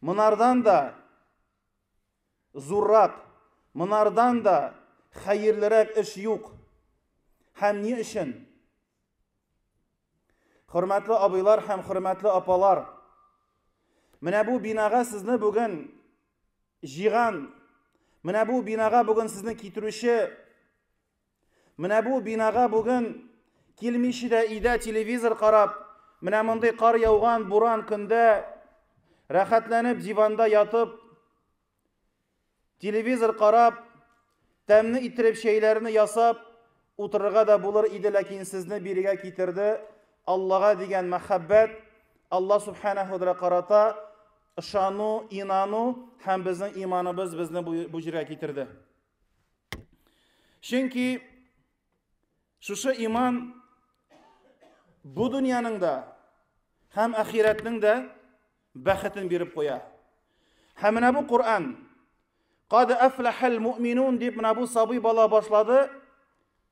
Монардан да зуррак, монардан да хәерлерәк эш юк. Һәм ни өчен? Хөрмәтле абыйлар һәм хөрмәтле апалар, менә бу бинага сезне бүген җиган, менә бу бинага бүген сезне китерүче Менә бу бинага бүген килмичи дә идә телевизор карап, менә мондый кар яуган буран көндә рәхәтләнеп диванда ятып, телевизор карап, тәмне иттереп чәйләрне ясап утырырга да булыр иде, ләкин сезне бирегә китерде. Аллага дигән мәхәббәт, Алла субханаһу ва карата ышану, инану һәм безнең иманыбыз безне бу җиргә китерде. Чөнки шушы иман бу дөньяның да һәм ахирәтнең дә бәхетен биреп куя. Һәм менә бу Коръән Кад афлахал муъминун дип менә бу сабый бала башлады.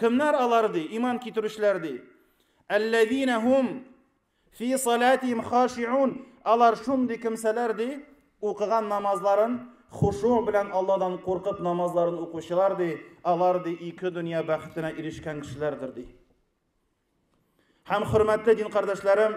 Кемнәр алар ди, иман китерүчеләр ди? Әлләзина хум фи салатихим хашиун. Алар шундый кемсәләр ди, укыган намазларын хушу белән Алладан куркып намазларын укучылар ди, алар ди ике дөнья бәхетенә ирешкән кешеләрдер ди. Һәм хөрмәтле дин кардәшләрем,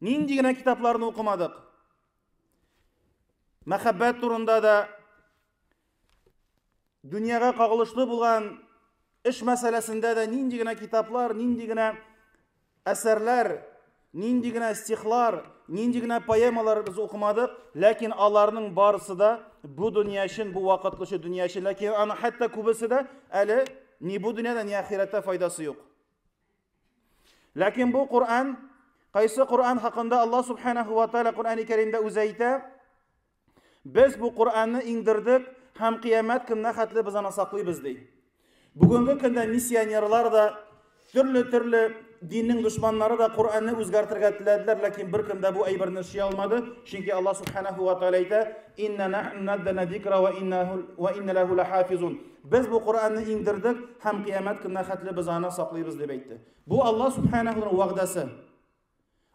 Нинди генә китапларны укымадык. Мәхәббәт турында да дөньяга кагылышлы булган эш мәсьәләсендә дә нинди генә китаплар, нинди генә әсәрләр, нинди генә стихлар, нинди генә поэмалар без укымадык, ләкин аларның барысы да бу дөнья өчен, бу вакытлыча дөнья өчен, ләкин аны хәтта күбесе дә әле ни бу дөньяда, ни ахирәттә файдасы юк. Ләкин бу Коръән, кайсы Коръән хакында Аллаһ субханаһу ва тааля Коръәни Кәримдә үзе әйтә, без бу Коръәнне иңдердек һәм кыямәт көненә хәтле без аны саклыйбыз ди. Бүгенге көндә миссионерлар да төрле-төрле диннең дошманнары да Коръәнне үзгәртергә теләделәр, ләкин бер кем дә бу әйберне эшли алмады, чөнки Аллаһ субханаһу ва тааля әйтә: "Инна нахну наддана зикра ва инна ва инна лаху лахафизун". Без бу Коръәнне иңдердек һәм кыямәт көненә хәтле без аны саклыйбыз дип әйтте. Бу Аллаһ Субханахуның вәгъдәсе.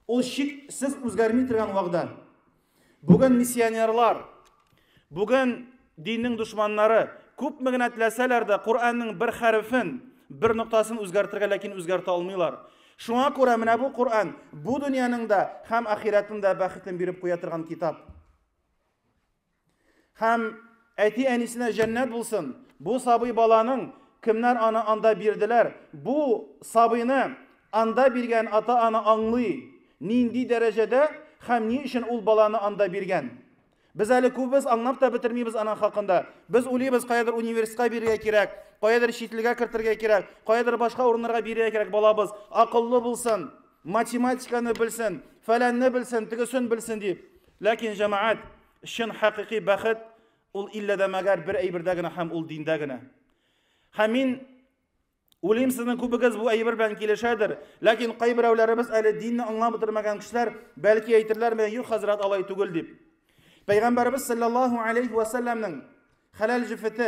Ул шиксез үзгәрми торган вәгъдә. Бүген миссионерлар, бүген диннең дошманнары күпме генә теләсәләр дә Коръәннең бер хәрефен, бер ноктасын үзгәртергә ләкин үзгәртә алмыйлар. Шуңа күрә менә бу Коръән бу дөньяның да һәм ахирәтнең дә бәхетен биреп куя торган китап. Һәм әти-әнисенә җәннәт булсын. Бу сабый баланың кемнәр аны анда бирделәр? Бу сабыйны анда биргән ата-ана аңлый, нинди дәрәҗәдә һәм ни өчен ул баланы анда биргән. Без әле күбебез аңлап та бетермибез аның хакында. Без уйлыйбыз, каядыр университетка бирергә кирәк, каядыр чит илгә кертергә кирәк, каядыр башка урыннарга бирергә кирәк балабыз. Акыллы булсын, математиканы белсен, фәләнне белсен, тегесен белсен дип. Ләкин, җәмәгать, чын хакыйкый бәхет ул иллә дә мәгәр бер әйбердә генә һәм ул диндә генә. Һәм мин Уйлыйм, сезнең күбегез бу әйбер белән килешәдер, ләкин кайберәүләребез әле динне аңлап бетермәгән кешеләр бәлки әйтерләр менә юк хәзрәт алай түгел дип. Пәйгамбәрбез саллаллаһу алейхи ва сәлләмнең хәләл җефете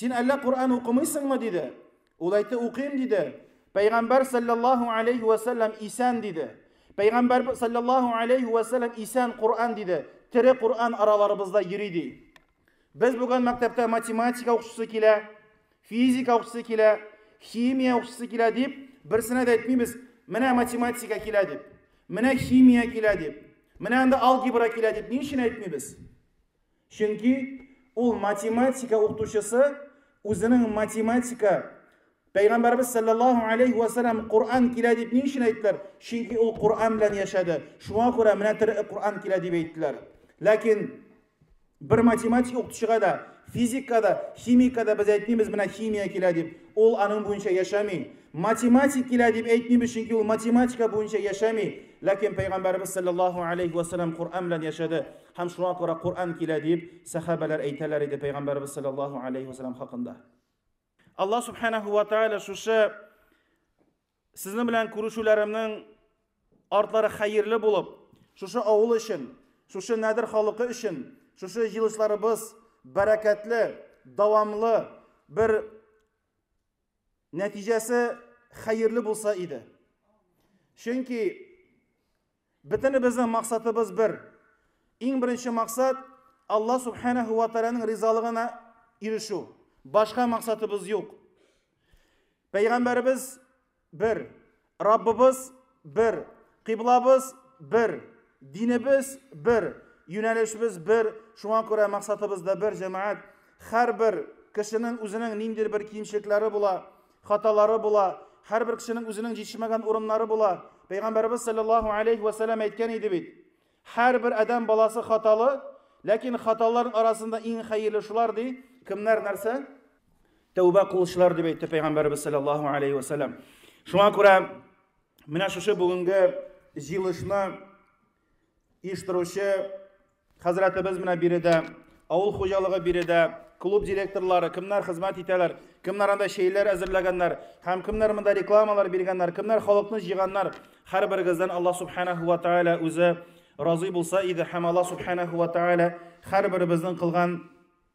Син әллә Коръән укымыйсыңмы диде. Ул әйтте, укыйм диде. Пәйгамбәр саллаллаһу алейхи ва саллям исән диде. Пәйгамбәр саллаллаһу алейхи ва саллям исән Коръән диде. Тере Коръән араларыбызда йөри ди. Без бүген мәктәптә математика укучысы килә, физика укучысы килә, химия укучысы килә дип, берсенә дә әйтмибез, менә математика килә дип, менә химия килә дип, менә анда алгебра килә дип ни өчен әйтмибез? Чөнки ул математика укытучысы үзенең математика Пәйгамбәрбез салләллаһу алейһи вә сәлләм Коръән килә дип ни өчен әйттеләр? Чөнки ул Коръән белән яшәде. Шуңа күрә менә тере Коръән килә дип әйттеләр. Ләкин бер математик укытучыга да, физикка да, химикка да без әйтмибез менә химия килә дип. Ул аның буенча яшәми. Математик килә дип әйтмибез, чөнки ул математика буенча яшәми. Ләкин Пәйгамбәрбез салләллаһу алейһи вә сәлләм Коръән белән яшәде. Һәм шуңа күрә Коръән килә, дип сәхабәләр әйтәләр иде пәйгамбәребез саллаллаһу алейһи вәсәлләм хакында. Аллаһ субханаһу ва тааля шушы сезнең белән күрешүләремнең артлары хәерле булып, шушы авыл өчен, шушы нәдер халыкы өчен, шушы җылышларыбыз бәрәкәтле, дәвамлы бер нәтиҗәсе хәерле булса иде. Чөнки Бөтенебезнең максатыбыз бер. Иң беренче максат Алла Субханәһү вә Тәгаләнең ризалыгына ирешү. Башка максатыбыз юк. Пәйгамбәребез бер, Раббыбыз бер, кыйблабыз бер, динебез бер, юнәлешебез бер, шуңа күрә максатыбыз да бер, җәмәгать. Һәрбер кешенең үзенең ниндидер бер кимчелекләре була. Хаталары була. Һәрбер кешенең үзенең җитешмәгән урыннары була. Пәйгамбәрбез саллаллаһу алейхи ва саллям әйткән иде бит. Һәрбер адәм баласы хаталы, ләкин хаталарның арасында иң хәерле шулар ди. Кемнәр нәрсә? Тәүбә кылучылар дип әйтте пәйгамбәрбез саллаллаһу алейхи ва саллям. Шуңа күрә менә шушы бүгенге җыелышны Иш торучы хәзрәтебез менә биредә, авыл хуҗалыгы биредә, клуб директорлары, кемнәр хезмәт итәләр, кемнәр анда чәйләр әзерләгәннәр, һәм кемнәр монда рекламалар биргәннәр, кемнәр халыкны җыйганнар, һәрберегездән Аллаһ субханаһу ва тааля үзе разый булса иде һәм Аллаһ субханаһу ва тааля һәрберебезнең кылган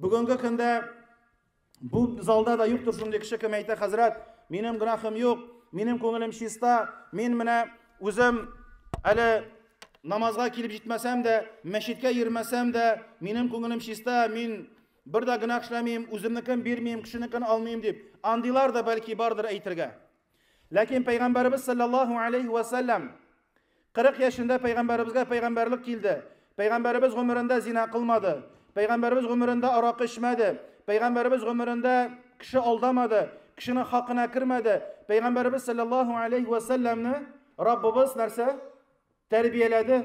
Бүгенге көндә бу залда да юктыр шундый кеше кем әйтә, хәзрәт, минем гөнаһым юк, минем күңелем чиста, мин менә үзем әле намазга килеп җитмәсәм дә, мәчеткә йөрмәсәм дә, минем күңелем чиста, мин бер дә гөнаһ эшләмим, үземнекен бирмим, кешенекен алмыйм дип. Андыйлар да бәлки бардыр әйтергә. Ләкин Пәйгамбәребез саллаллаһу алейһи вә сәлләм 40 яшендә Пәйгамбәребезгә пәйгамбәрлек килде. Пәйгамбәребез гомерендә зина кылмады. Пәйгамбәребез гомерендә аракы эчмәде. Пәйгамбәребез гомерендә кеше алдамады, кешенең хакына кермәде. Пәйгамбәребез саллаллаһу алейһи вә сәлләмне Раббыбыз нәрсә? Тәрбияләде.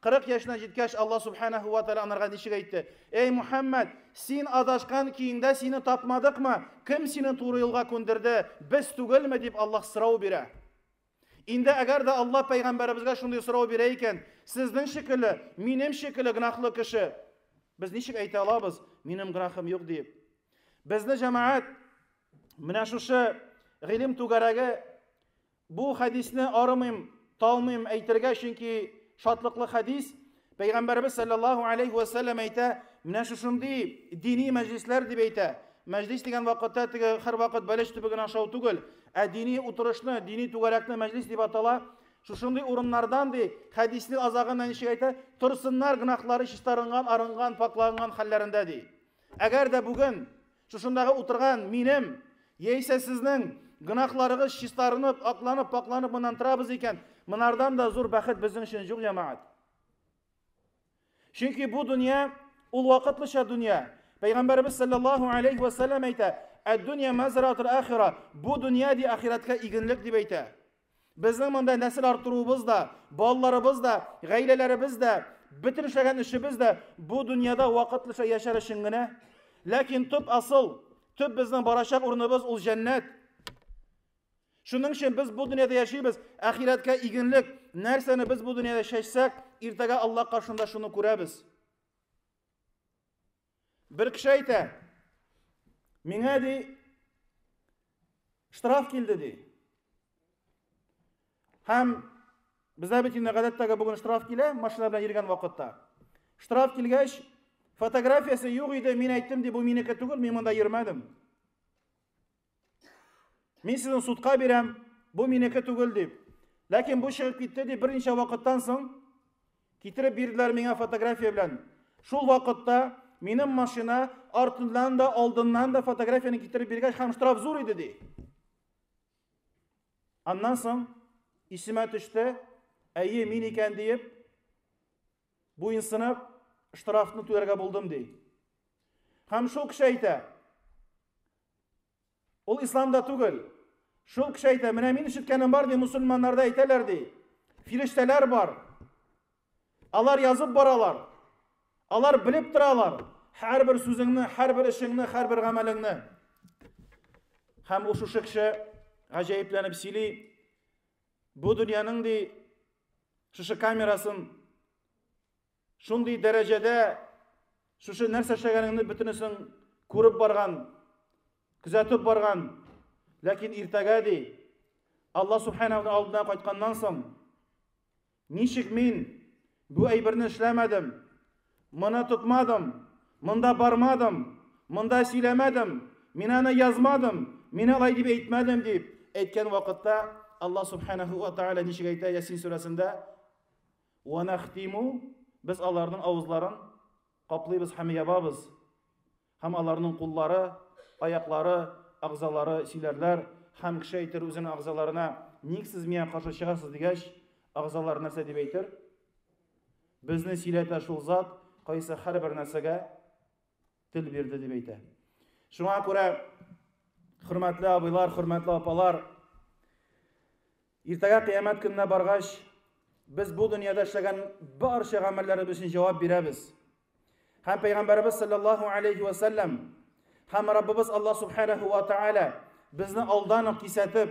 Кырык яшенә җиткәч, Алла Сүбхәнәһү вә Тәгалә анарга ничек әйтте? Әй Мухәммәд, син адашкан көеңдә сине тапмадыкмы? Кем сине туры юлга күндерде? Без түгелме? дип Аллаһ сорау бирә. Инде әгәр дә Аллаһ пәйгамбәребезгә шундый сорау бирә икән, сезнең шикелле, минем шикелле гөнаһлы кеше, без ничек әйтә алабыз, минем гөнаһым юк диеп? Безне җәмәгать менә шушы гыйлем түгәрәге Бу хәдисне арымыйм, талмыйм әйтергә, чөнки шатлыклы хәдис, Пәйгамбәребез салләллаһу алейһи вә сәлләм әйтә, менә шушындый дини мәҗлисләр дип әйтә. Мәҗлис дигән вакытта теге һәрвакыт бәлеш төбеген ашау түгел, ә дини утырышны, дини түгәрәкне мәҗлис дип атала. Шушындый урыннардан ди, хәдиснең азагында ничек әйтә, торсыннар гөнаһлары чистарынган, арынган, паклаганган хәлләрендә ди. Әгәр дә бүген Шушындагы утырган минем, яисә сезнең гөнаһларыгыз чистарынып, акланып, пакланып моннан торабыз икән, монардан да зур бәхет безнең өчен юк, җәмәгать. Чөнки бу дөнья ул вакытлыча дөнья. Пәйгамбәребез саллаллаһу алейхи ва саллям әйтә: "Ад-дөнья мазратул ахира". Бу дөнья ди ахирәткә игенлек дип әйтә. Безнең монда нәсел арттыруыбыз да, балаларыбыз да, гаиләләребез дә, бөтен эшләгән эшебез дә бу дөньяда вакытлыча яшәр өчен генә. Ләкин төп асыл, төп безнең барачак урыныбыз ул җәннәт. Шуның өчен без бу дөньяда яшибез, ахирәткә игенлек, нәрсәне без бу дөньяда чәчсәк, иртәгә Алла каршында шуны күрәбез. Бер кеше әйтә, миңа ди штраф килде ди. Һәм бездә бит инде гадәттәге бүген штраф килә, машина белән йөргән вакытта. Штраф килгәч, фотографиясе юк иде, мин әйттем ди, бу минеке түгел, мин монда йөрмәдем. Мин сезне судка бирәм, бу минеке түгел дип. Ләкин бу чыгып китте дип берничә вакыттан соң китереп бирделәр миңа фотография белән. Шул вакытта минем машина артыннан да, алдыннан да фотографияне китереп биргәч, һәм штраф зур иде ди. Аннан соң исемә төште, әйе, мин икән диеп, буенсынып, штрафны түләргә булдым ди. Һәм шул кеше әйтә, Ул исламда түгел. Шул кеше әйтә, менә мин ишеткәнем бар, ди, мусульманнарда әйтәләр, ди. Фирештәләр бар. Алар язып баралар. Алар белеп торалар. Һәрбер сүзеңне, һәрбер эшеңне, һәрбер гамәлеңне. Һәм ул шушы кеше гаҗәепләнеп сөйли. Бу дөньяның ди шушы камерасын Шундый дәрәҗәдә шушы нәрсә эшләгәнеңне бөтенесен күреп барган, күзәтеп барган, ләкин иртәгә ди, Алла Субханаһуның алдына кайтканнан соң, ничек мин бу әйберне эшләмәдем, моны тотмадым, монда бармадым, монда сөйләмәдем, мин аны язмадым, мин алай дип әйтмәдем дип әйткән вакытта Алла Субханаһу ва Тааля ничек әйтә Ясин сүрәсендә? Уанахтиму, без аларның авызларын каплыйбыз һәм ябабыз, һәм аларның куллары, аяклары, агъзалары сөйләрләр, һәм кеше әйтер үзенең агъзаларына, ник сез миңа каршы чыгасыз дигәч, агъзалар нәрсә дип әйтер? Безне сөйләтә шул зат, кайсы һәрбер нәрсәгә тел бирде дип әйтә. Шуңа күрә, хөрмәтле абыйлар, хөрмәтле апалар, иртәгә кыямәт көненә баргач, без бу дөньяда эшләгән барча гамәлләребез өчен җавап бирәбез. Һәм пәйгамбәрбез саллаллаһу алейхи ва саллям һәм Раббыбыз Аллаһ субханаһу ва тааля безне алдан ук кисәтеп,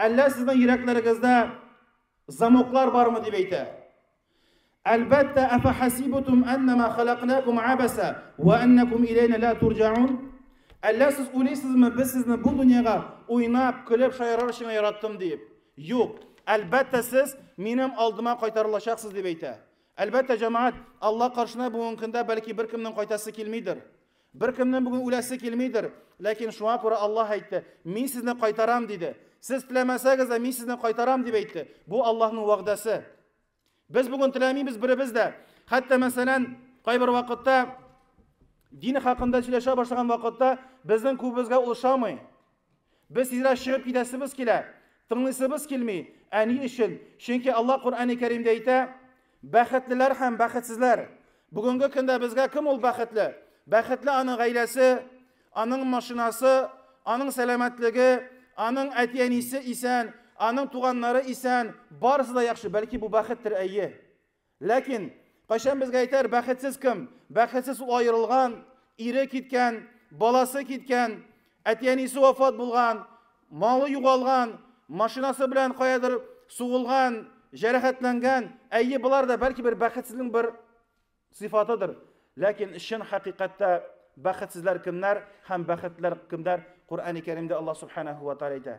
Әллә сезнең йөрәкләрегездә замоклар бармы дип әйтә. Әлбәттә, афахасибутум аннама халакнакум абаса ва аннакум илейна ла турҗаун. Әллә сез уйлыйсызмы, без сезне бу дөньяга уйнап, көлеп шаярыр өчен яраттым дип? Юк. Әлбәттә, сез минем алдыма кайтарылачаксыз дип әйтә. Әлбәттә, җәмәгать, Алла каршына бүгенге көндә бәлки беркемнең кайтасы килмидер. Беркемнең бүген үләсе килмидер, ләкин шуңа күрә Аллаһ әйтте, Мин сезне кайтарам, диде. Сез теләмәсәгез дә, мин сезне кайтарам, дип әйтте. Бу Аллаһның вәгъдәсе. Без бүген теләмибез беребез дә. Хәтта, мәсәлән, кайбер вакытта дин хакында сөйләшә башлаган вакытта безнең күбебезгә ул ошамый. Без тизрәк чыгып китәсебез килә, тыңлыйсыбыз килми. Ә ни өчен? Чөнки Алла Коръәни Кәримдә әйтә, бәхетлеләр һәм бәхетсезләр. Бүгенге көндә безгә кем ул бәхетле? Бәхетле аның гаиләсе, аның машинасы, аның сәламәтлеге, аның әти-әнисе исән, аның туганнары исән, барысы да яхшы. Бәлки бу бәхеттер, әйе. Ләкин, кайчан безгә әйтәр, бәхетсез кем? Бәхетсез ул аерылган, ире киткән, баласы киткән, әти-әнисе вафат булган, малы югалган, машинасы белән каядыр сугылган, җәрәхәтләнгән. Әйе, болар да бәлки бер бәхетсезлең бер сыйфатыдыр. Ләкин чын хакыйкатьтә бәхетсезләр кемнәр һәм бәхетләр кемнәр? Коръәни Кәримдә Аллаһ Субханаһу ва Тааля әйтә.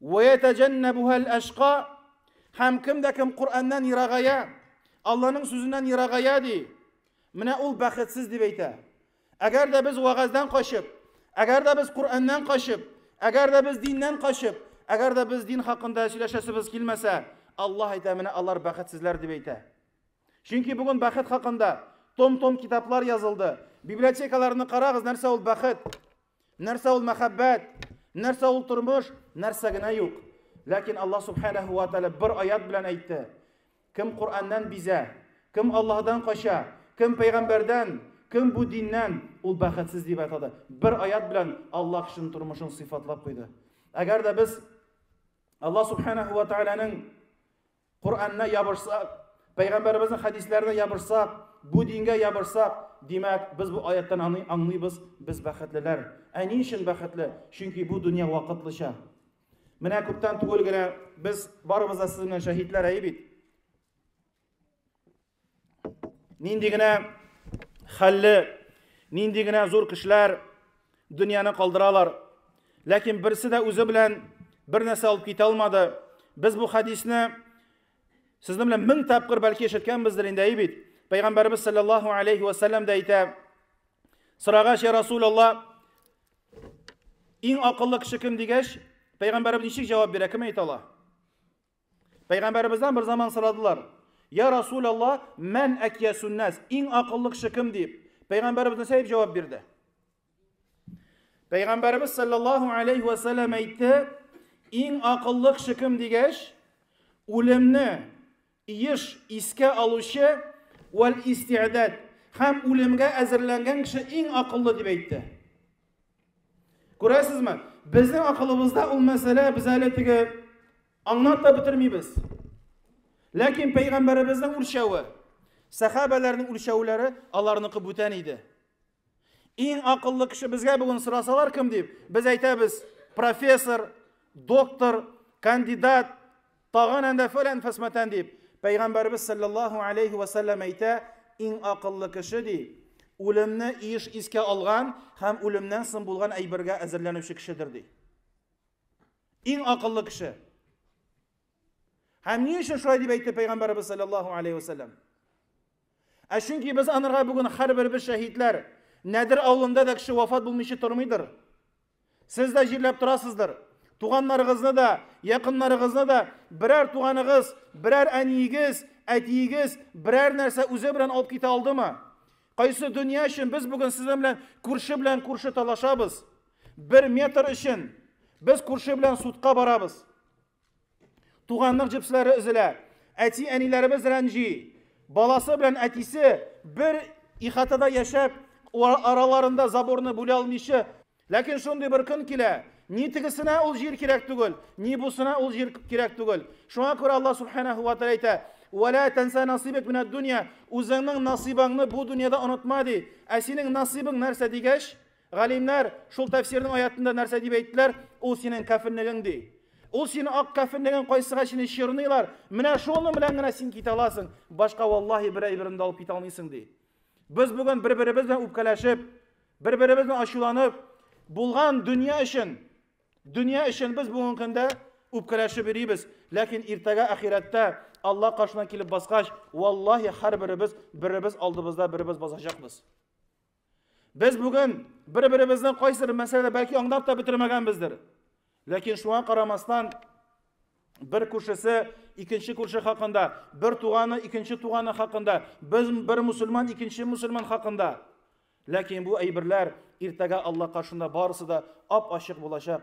Вәятәҗәннәбүһә әл-әшка, һәм кем дә кем Коръәннән ерагая, Алланың сүзеннән ерагая, ди, менә ул бәхетсез, дип әйтә. Әгәр дә без вәгазьдән качып, әгәр дә без Коръәннән качып, әгәр дә без диннән качып, әгәр дә без дин хакында сөйләшәсебез килмәсә, Аллаһ әйтә, менә алар бәхетсезләр, дип әйтә. Чөнки бүген бәхет хакында том-том китаплар язылды. Библиотекаларны карагыз, нәрсә ул бәхет? Нәрсә ул мәхәббәт? Нәрсә ул тормыш? Нәрсә генә юк. Ләкин Аллаһ Субханаһу ва Тааля бер аят белән әйтте. Кем Коръәннән бизә, кем Аллаһдан кача, кем пәйгамбәрдән, кем бу диннән, ул бәхетсез дип атады. Бер аят белән Аллаһ кешенең тормышын сыйфатлап куйды. Әгәр дә без Аллаһ Субханаһу ва Тааляның Коръәннә ябышсак, Пәйгамбәребезнең хәдисләренә ябышсак, бу дингә ябышсак, димәк, без бу аяттан аны аңлыйбыз, без бәхетлеләр. Ә ни өчен бәхетле? Чөнки бу дөнья вакытлыча. Менә күптән түгел генә без барыбыз да сезнең шаһитләр әйе бит. Нинди генә хәлле, нинди генә зур кешеләр дөньяны калдыралар. Ләкин берсе дә үзе белән бер нәрсә алып китә алмады. Без бу хәдисне сезнең белән мең тапкыр бәлки ишеткәнбездер инде, әй бит. Пәйгамбәрбез саллаллаһу алейхи ва саллям да әйтә: "Сорагач, я Расулаллаһ, иң акыллы кеше кем?" дигәч, пәйгамбәрбез ничек җавап бирә, кем әйтә ала? Пәйгамбәребездән бер заман сорадылар. Я Расул Алла, мән әкиясүннәс, иң акыллы кеше кем дип. Пәйгамбәребез нәрсә дип җавап бирде? Пәйгамбәребез саллаллаху алейхи ва саллям әйтте, иң акыллы кеше кем дигәч, үлемне еш искә алучы вәл истиадәт һәм үлемгә әзерләнгән кеше иң акыллы дип әйтте. Күрәсезме? Безнең акылыбызда ул мәсьәлә без әле теге аңлап та бетермибез. Ләкин пәйгамбәребезнең үлчәве, сәхабәләрнең үлчәүләре аларныкы бүтән иде. Иң акыллы кеше безгә бүген сорасалар кем дип, без әйтәбез, профессор, доктор, кандидат, Тагын әндә фәлән фәсмәтән дип, Пәйгамбәребез сәлләллаһу әләйһи вә сәлләм әйтә, Иң акыллы кеше, ди, үлемне еш искә алган һәм үлемнән соң булган әйбергә әзерләнүче кешедер, ди. Иң акыллы кеше. Һәм ни өчен шулай дип әйтте Пәйгамбәребез сәлләллаһу әләйһи вә сәлләм? Ә чөнки без анырга бүген хәрберебез шәһидләр. Нәдер авылында да кеше вафат булмыйчы тормыйдыр. Сез дә җирләп торасыздыр. Туганнарыгызны да, якыннарыгызны да берәр туганыгыз, берәр әниегез, әтиегез берәр нәрсә үзе белән алып китә алдымы? Кайсы дөнья өчен без бүген сезнең белән күрше белән күрше талашабыз? Бер метр өчен без күрше белән судка барабыз. Туганлык җепсләре өзелә. Әти-әниләребез рәнҗи. Баласы белән әтисе бер ихатада яшәп, араларында заборны бүлә алмыйча. Ләкин шундый бер көн килә, ни тегесенә ул җир кирәк түгел, ни бусына ул җир кирәк түгел. Шуңа күрә Аллаһ субханаһу ва тааля әйтә, «Вәлә тәнсә насыйбек минәд дөнья». Үзеңнең насыйбаңны бу дөньяда онытма ди. Ә синең насыйбың нәрсә дигәч, Галимнәр шул тәфсирнең аятында нәрсә дип әйттеләр? Ул синең кәфенлегең ди. Ул синең ак кәфенлегең кайсыга сине чорныйлар, менә шуның белән генә син китә аласың, башка валлаһи бер әйберен дә алып китә алмыйсың ди. Без бүген бер-беребез белән үпкәләшеп, бер-беребез белән ачуланып, булган дөнья өчен, дөнья өчен без бүгенге көндә үпкәләшеп йөрибез. Ләкин иртәгә ахирәттә Алла каршына килеп баскач, валлаһи һәрберебез беребез алдыбызда беребез басачакбыз. Без бүген бер-беребезне кайсыр мәсьәләдә бәлки аңлап та бетермәгәнбездер. Ләкин шуңа карамастан бер күршесе икенче күрше хакында, бер туганы икенче туганы хакында, без бер мусульман икенче мусульман хакында. Ләкин бу әйберләр иртәгә Алла каршында барысы да ап-ачык булачак.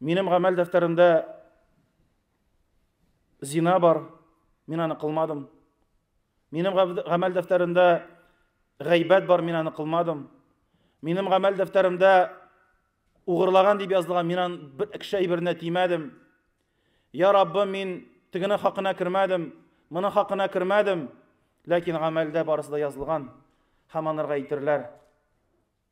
Минем гамәл дәфтәремдә зина бар, мин аны кылмадым. Минем гамәл дәфтәремдә гайбәт бар, мин аны кылмадым. Минем гамәл дәфтәремдә угырлаган дип язылган, мин аны бер кеше әйберенә тимәдем. Я Раббы, мин тегене хакына кермәдем, моны хакына кермәдем. Ләкин гамәлдә барысы да язылган. Һәм анырга әйтерләр.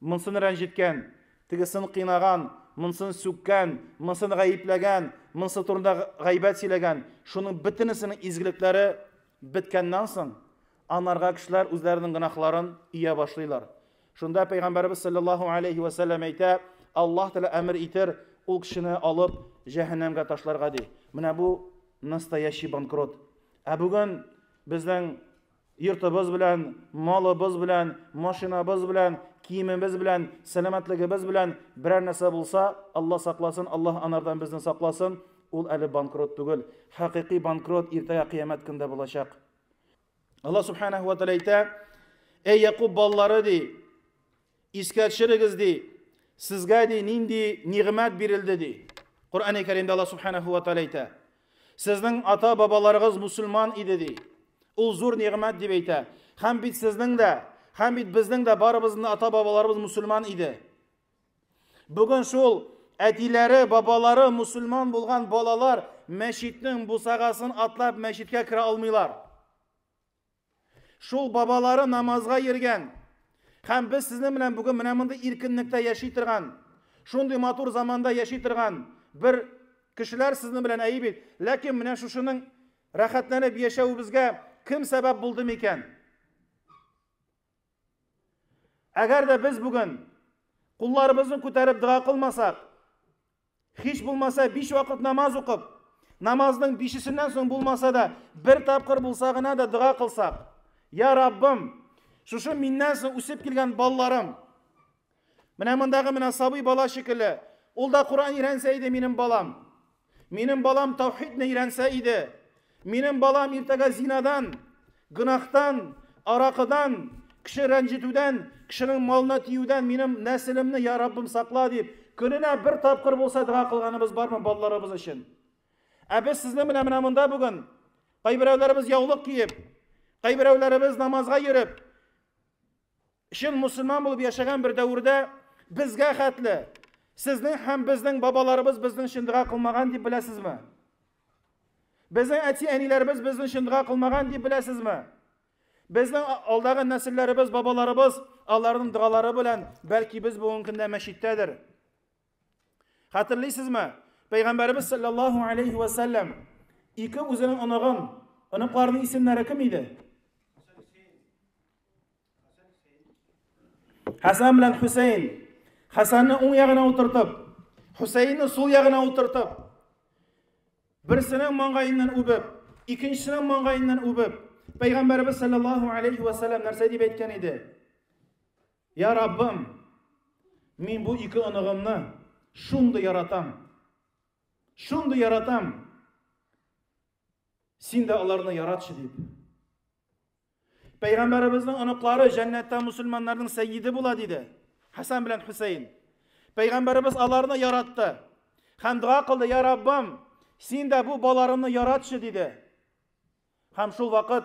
Монсын рәнҗеткән, тегесен кыйнаган, монсын сүккән, монсын гаепләгән, монысы турында гайбәт сөйләгән, шуның бөтенесенең изгелекләре беткәннән соң, анарга кешеләр үзләренең гөнаһларын ия башлыйлар. Шунда Пәйгамбәребез саллаллаһу алейһи вә сәлләм әйтә, Аллаһ Тәгалә әмер итер ул кешене алып җәһәннәмгә ташларга, ди. Менә бу настоящий банкрот. Ә бүген безнең Йортыбыз белән, малыбыз белән, машинабыз белән, киемебез белән, сәламәтлегебез белән берәр нәрсә булса, Алла сакласын, Аллаһ анардан безне сакласын, ул әле банкрот түгел. Хакыйкый банкрот иртәгә кыямәт көндә булачак. Алла субханаһу ва тааля әйтә: "Эй Якуб балалары" ди, Искә төшерегез, ди, сезгә ди нинди нигъмәт бирелде, ди. Коръәни Кәримдә Алла Субханаһу ва Тааля әйтә. Сезнең ата-бабаларыгыз мусульман иде, ди. Ул зур нигъмәт дип әйтә. Һәм бит сезнең дә, һәм бит безнең дә барыбызның да ата-бабаларыбыз мусульман иде. Бүген шул әтиләре, бабалары мусульман булган балалар мәчетнең бусагасын атлап мәчеткә керә алмыйлар. Шул бабалары намазга йөргән. Һәм без сезнең белән бүген менә мондый иркенлектә яши торган, шундый матур заманда яши торган бер кешеләр сезнең белән әйе бит. Ләкин менә шушының рәхәтләнеп яшәвебезгә кем сәбәп булды микән? Әгәр дә без бүген кулларыбызны күтәреп дога кылмасак, Һич булмаса, биш вакыт намаз укып, намазның бишесеннән соң булмаса да, бер тапкыр булса гына да дога кылсак. Я Раббым, шушы миннән соң үсеп килгән балаларым. Менә мондагы менә сабый бала шикелле. Ул да Куран өйрәнсә иде минем балам. Минем балам таухидны өйрәнсә иде. Минем балам иртәгә зинадан, гөнаһтан, аракыдан, кеше рәнҗетүдән, кешенең малына тиюдән минем нәселемне я Раббым сакла дип, көненә бер тапкыр булса дога кылганыбыз бармы балаларыбыз өчен? Ә без сезнең белән менә монда бүген кайберәүләребез яулык киеп, кайберәүләребез намазга йөреп, Чын мусульман булып яшәгән бер дәвердә безгә хәтле сезнең һәм безнең бабаларыбыз безнең өчен дога кылмаган дип беләсезме? Безнең әти-әниләребез безнең өчен дога кылмаган дип беләсезме? Безнең алдагы нәселләребез, бабаларыбыз аларның догалары белән, бәлки без бүгенге көндә мәчеттәдер. Хәтерлисезме? Пәйгамбәребез саллаллаһу алейхи ва саллям ике үзенең оныгын, оныкларының исемнәре кем иде? Хәсән белән Хусейн. Хәсәнне уң ягына утыртып, Хусейнны сул ягына утыртып, берсенең маңгаеннан үбеп, икенчесенең маңгаеннан үбеп, Пәйгамбәребез саллаллаһу алейхи ва саллям нәрсә дип әйткән иде? Я Раббым, мин бу ике оныгымны шундый яратам. Шундый яратам. Син дә аларны яратчы дип. Пәйгамбәребезнең оныклары җәннәттә мусульманнарның сәйиде була диде. Хасан белән Хусейн. Пәйгамбәребез аларны яратты. Һәм дуа кылды, "Я Раббым, син дә бу баларымны яратчы" диде. Һәм шул вакыт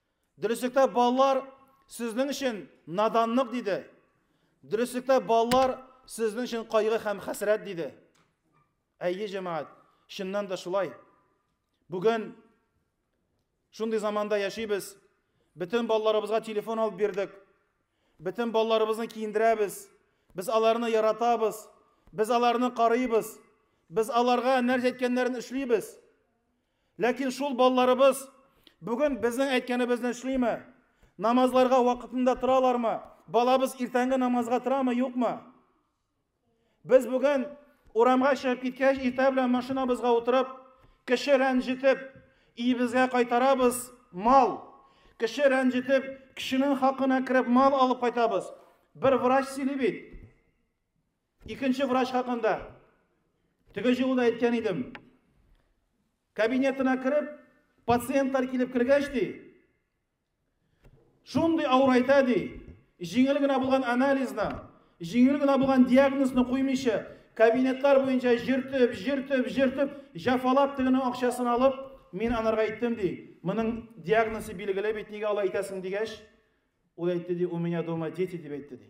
Дөреслектә балалар сезнең өчен наданлык, диде. Дөреслектә балалар сезнең өчен кайгы һәм хәсрәт, диде. Әйе, җәмәгать, чыннан да шулай. Бүген шундый заманда яшибез. Бөтен балаларыбызга телефон алып бирдек. Бөтен балаларыбызны киендерәбез. Без аларны яратабыз. Без аларны карыйбыз. Без аларга нәрсә әйткәннәрен эшлибез. Ләкин шул балаларыбыз бүген безнең әйткәнебезне эшлиме? Намазларга вакытында торалармы? Балабыз иртәнге намазга торамы, юкмы? Без бүген урамга чыгып киткәч, иртә белән машинабызга утырып, кеше рәнҗетеп, иебезгә кайтарабыз мал. Кеше рәнҗетеп, кешенең хакына кереп мал алып кайтабыз. Бер врач сөйли бит. Икенче врач хакында. Теге җылы да әйткән идем. Кабинетына кереп, пациентлар килеп кергәч ди, шундый авыр әйтә ди, җиңел генә булган анализны, җиңел генә булган диагнозны куймыйча, кабинетлар буенча җиртеп, җиртеп, җиртеп, җафалап тегенең акчасын алып, мин анарга әйттем ди, моның диагнозы билгеле бит, нигә алай әйтәсең дигәч, ул әйтте ди, у меня дома дети дип әйтте ди.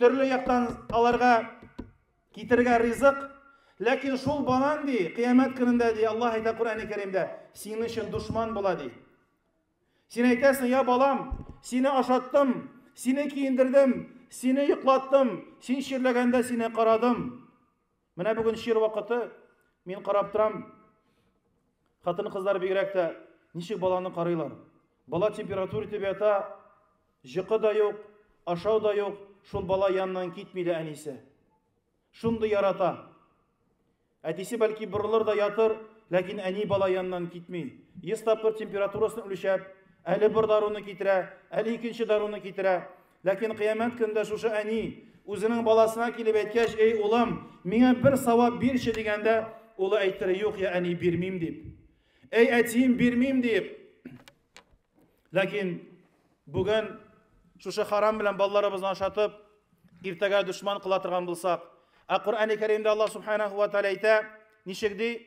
Төрле яктан аларга китерергә ризык, ләкин шул банан ди, кыямәт көнендә ди, Аллаһ әйтә Коръәни Кәримдә, синең өчен дошман була ди. Син әйтәсең, я балам, сине ашаттым, сине киендердем, сине йоклаттым, син чирләгәндә сине карадым. Менә бүген чир вакыты, мин карап торам, хатын-кызлар бигрәк тә ничек баланы карыйлар. Бала температура итеп ята, җыкы да юк, ашау да юк, шул бала янынан китми дә әнисе. Шундый ярата. Әтисе бәлки борылыр да ятыр, ләкин әни бала янынан китми. Йөз тапкыр температурасын үлчәп, әле бер даруны китерә, әле икенче даруны китерә. Ләкин кыямәт көндә шушы әни үзенең баласына килеп әйткәч, "Эй, улым, миңа бер савап бирче" дигәндә, улы әйтер, "Юк, я әни, бирмим" дип. "Эй, әтием, бирмим" дип. Ләкин бүген шушы харам белән балаларыбызны ашатып, иртәгә душман кыла торган булсак, ә Коръәни Кәримдә Аллаһ Субханаһу ва Тааля әйтә, ничек ди?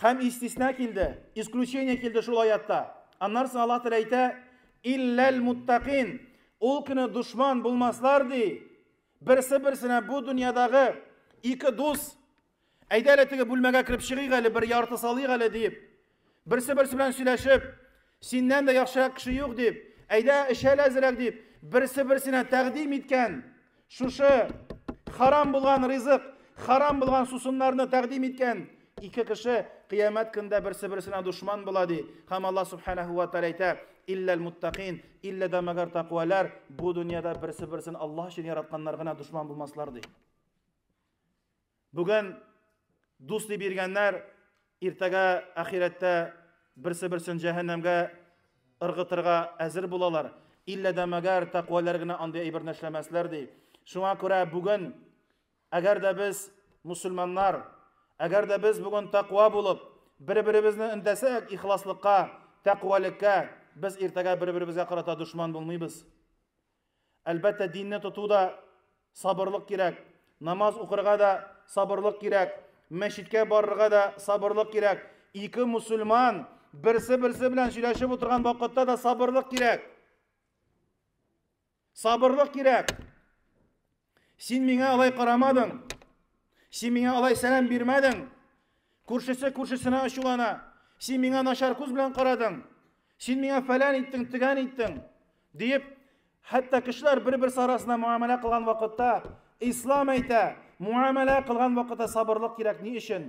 Хәм истисна килде, исключение килде шул аятта. Аннар соң Аллаһ Тәгалә әйтә, илләл муттакин. Ул көне душман булмаслар ди. Берсе берсенә бу дөньядагы ике дус әйдә әле теге бүлмәгә кереп чыгыйк әле бер ярты салыйк әле диеп. Берсе берсе белән сөйләшеп, Синнән дә яхшырак кеше юк дип, әйдә, эчәл әзрәк дип, берсе-берсенә тәкъдим иткән шушы харам булган ризык, харам булган сусыннарны тәкъдим иткән ике кеше кыямәт көндә берсе-берсенә дошман була ди. Һәм Аллаһ Субханаһу ва Тааля әйтә, Илләл муттакин, иллә дә мәгәр тәкъвалар, бу дөньяда берсе-берсен Аллаһ өчен яратканнар гына дошман булмаслар ди. Бүген дус дип йөргәннәр, иртәгә ахирәттә берсе-берсен җәһәннәмгә ыргытырга әзер булалар. Иллә дә мәгәр тәкъваләр генә андый әйберне эшләмәсләр ди. Шуңа күрә бүген, әгәр дә без мусульманнар, әгәр дә без бүген тәкъва булып, бер-беребезне өндәсәк ихласлыкка, тәкъвалеккә, без иртәгә бер-беребезгә карата дошман булмыйбыз. Әлбәттә, динне тоту да сабырлык кирәк, намаз укырга да сабырлык кирәк, мәчеткә барырга да сабырлык кирәк. Ике мусульман берсе-берсе белән сөйләшеп утырган вакытта да сабырлык кирәк. Сабырлык кирәк. Син миңа алай карамадың. Син миңа алай сәлам бирмәдең. Күршесе күршесенә ачулана. Син миңа начар күз белән карадың. Син миңа фәлән иттең, тегән иттең, диеп, хәтта кешеләр бер-берсе арасында муамәлә кылган вакытта, ислам әйтә, муамәлә кылган вакытта сабырлык кирәк. Ни өчен?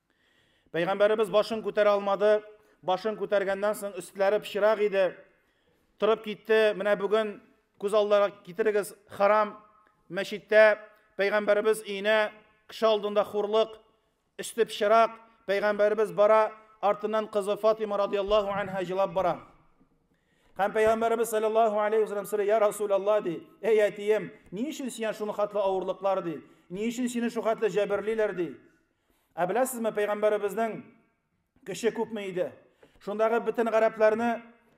Пәйгамбәребез башын күтәрә алмады. Башын күтәргәннән соң өстләре пычрак иде. Торып китте. Менә бүген күз алдына китерегез, харам мәчеттә пәйгамбәребез өенә кеше алдында хурлык, өсте пычрак, пәйгамбәребез бара, артыннан кызы Фатима радиаллаху анха җылап бара. Һәм пәйгамбәребез саллаллаху алейхи вәсәлләм сорый, "Я Расул Аллаһ", ди, "Эй әтием, ни өчен сиңа шуны хатлы авырлыклар ди? Ни өчен сине шул хатлы җәберлиләр ди?" Ә беләсезме, пәйгамбәребезнең кеше күпме иде? Шундагы бөтен гарәпләрне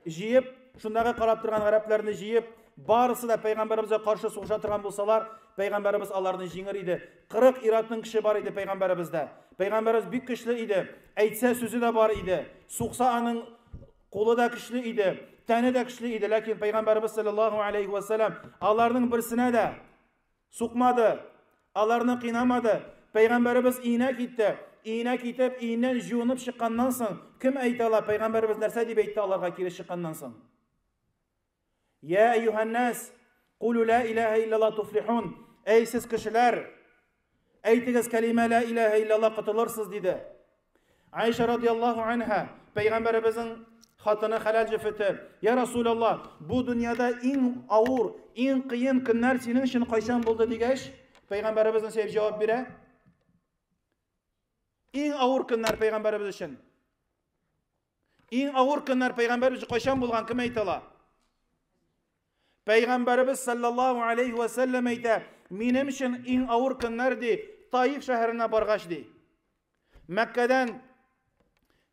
җыеп, шундагы карап торган гарәпләрне җыеп, барысы да пәйгамбәребезгә каршы сугыша торган булсалар, пәйгамбәребез аларны җиңер иде. 40 иратның кеше бар иде пәйгамбәребездә. Пәйгамбәребез бик көчле иде. Әйтсә сүзе дә бар иде. Сукса аның кулы да көчле иде, тәне дә көчле иде, ләкин пәйгамбәребез саллаллаху алейхи ва саллям аларның берсенә дә Сукмады, аларны кыйнамады. Пәйгамбәребез өенә китте. Өенә китеп, өеннән җуынып чыкканнан соң, кем әйтә ала, пәйгамбәребез нәрсә дип әйтте аларга кире чыкканнан соң? Я әйюһәннәс, кулу ла илаһа иллаллаһ туфлихун. Әй сез кешеләр, әйтегез кәлимә ла илаһа иллаллаһ котылырсыз диде. Айша радиаллаху анха, пәйгамбәребезнең хатыны хәләл җефете, Я Расул Аллах, бу дөньяда иң авыр, иң кыен көннәр синең өчен кайчан булды дигәч, пәйгамбәребезнең сәйф җавап бирә. Иң авыр көннәр пәйгамбәребез өчен. Иң авыр көннәр пәйгамбәр үзе кайчан булган, кем әйтә ала? Пәйгамбәребез саллаллаһу алейхи ва саллям әйтә, минем өчен иң авыр көннәр ди, Таиф шәһәренә баргач ди. Мәккәдән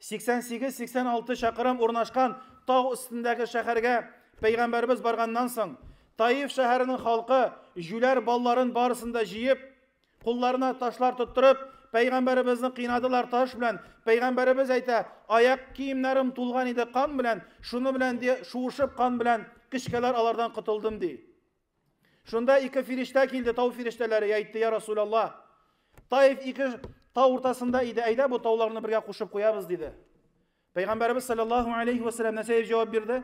88-86 чакрым урнашкан тау өстендәге шәһәргә пәйгамбәребез барганнан соң, Таиф шәһәренең халкы җүләр балларын барысын да җыеп, Кулларына ташлар тоттырып, пәйгамбәребезне кыйнадылар таш белән. Пәйгамбәребез әйтә, аяк киемнәрем тулган иде кан белән, шуны белән ди, шуышып кан белән кечкәләр алардан котылдым ди. Шунда ике фирештә килде, тау фирештәләре, әйтте, я Расулаллах, Таиф ике тау уртасында иде, әйдә бу тауларны бергә кушып куябыз, диде. Пәйгамбәребез саллаллаху алейхи вәсәләм нәрсә дип җавап бирде?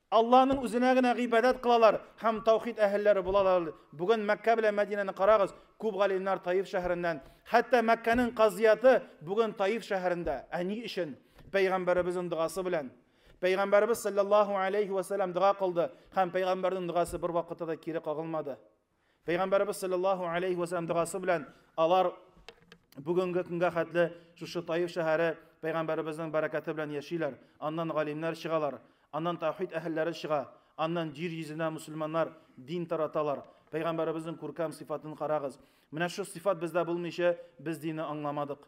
Аллаһның үзенә генә гыйбадәт кылалар һәм таухид әһелләре булалар. Бүген Мәккә белән Мәдинәне карагыз, күп галимнәр Таиф шәһәреннән. Хәтта Мәккәнең казыяты бүген Таиф шәһәрендә. Ә ни өчен? Пәйгамбәребезнең догасы белән. Пәйгамбәребез салләллаһу алейһи вә сәлләм дога кылды һәм пәйгамбәрнең догасы бервакытта да кире кагылмады. Пәйгамбәребез саллаллаһу алейһи вә сәлләм догасы белән алар бүгенге көнгә хәтле шушы Таиф шәһәре пәйгамбәребезнең бәрәкәте белән яшиләр. Аннан галимнәр чыгалар, аннан таухид әһелләре чыга, аннан җир йөзенә мусульманнар дин тараталар. Пәйгамбәребезнең күркәм сыйфатын карагыз. Менә шу сыйфат бездә булмыйча без динне аңламадык.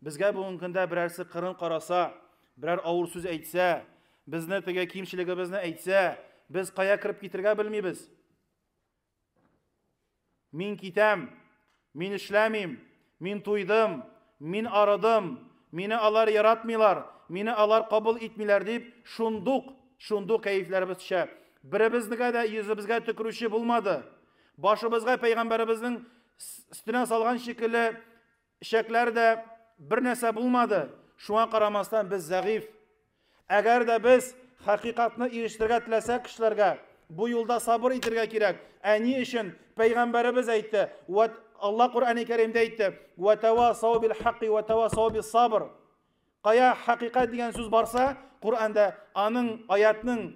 Безгә бүгенге көндә берәрсе кырын караса, берәр авыр сүз әйтсә, безне теге кимчелегебезне әйтсә, без кая кереп китергә белмибез. Мин китәм, мин эшләмим, мин туйдым, мин арыдым, мине алар яратмыйлар, мине алар кабул итмиләр дип, шундук, шундук кәефләребез төшә. Беребезнегә дә йөзебезгә төкерүче булмады. Башыбызга пәйгамбәребезнең стенә салган шикелле Эчәкләре дә бер нәрсә булмады, шуңа карамастан без зәгыйфь. Әгәр дә без хакыйкатьне ирештерергә теләсәк кешеләргә, бу юлда сабыр итергә кирәк. Ә ни өчен? Пәйгамбәребез әйтте, вә Алла Коръәни Кәримдә әйтте, вә тәвасау бил хакки вә тәвасау бис сабр. Кая хакыйкать дигән сүз барса, Коръәндә аның аятның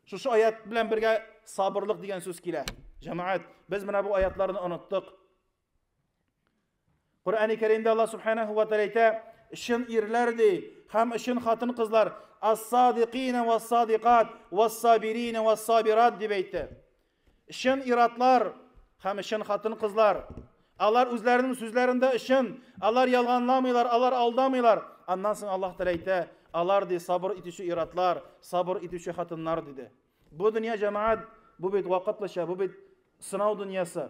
шушы аят белән бергә сабырлык дигән сүз килә. Җәмәгать, без менә бу аятларны оныттык. Коръәни Кәримдә Аллаһ Субханаһу ва Тааля әйтә, чын ирләр ди һәм чын хатын-кызлар ас-садиқина вас-садиқат вас-сабирина вас-сабират дип әйтте. Чын иратлар һәм чын хатын-кызлар алар үзләренең сүзләрендә чын, алар ялганламыйлар, алар алдамыйлар. Аннан соң Аллаһ Тааля әйтә, алар ди сабыр итүче иратлар, сабыр итүче хатыннар диде. Бу дөнья җәмәгать, бу бит вакытлыча, бу бит сынау дөньясы.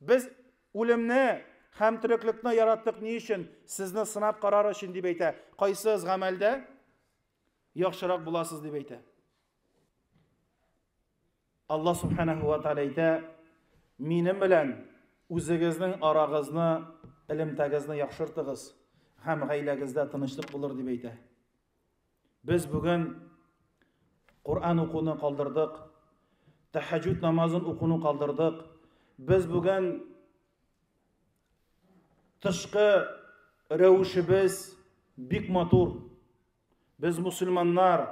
Без үлемне һәм тереклекне яраттык ни өчен? Сезне сынап карар өчен дип әйтә. Кайсыгыз гамәлдә яхшырак буласыз дип әйтә. Алла субханаһу ва тааля әйтә, минем белән үзегезнең арагызны, элемтәгезне яхшыртыгыз һәм гаиләгездә тынычлык булыр дип әйтә. Без бүген Коръән укуны калдырдык, тәһәҗҗүд намазын укуны калдырдык. Без бүген тышкы рәвешебез бик матур. Без мусульманнар,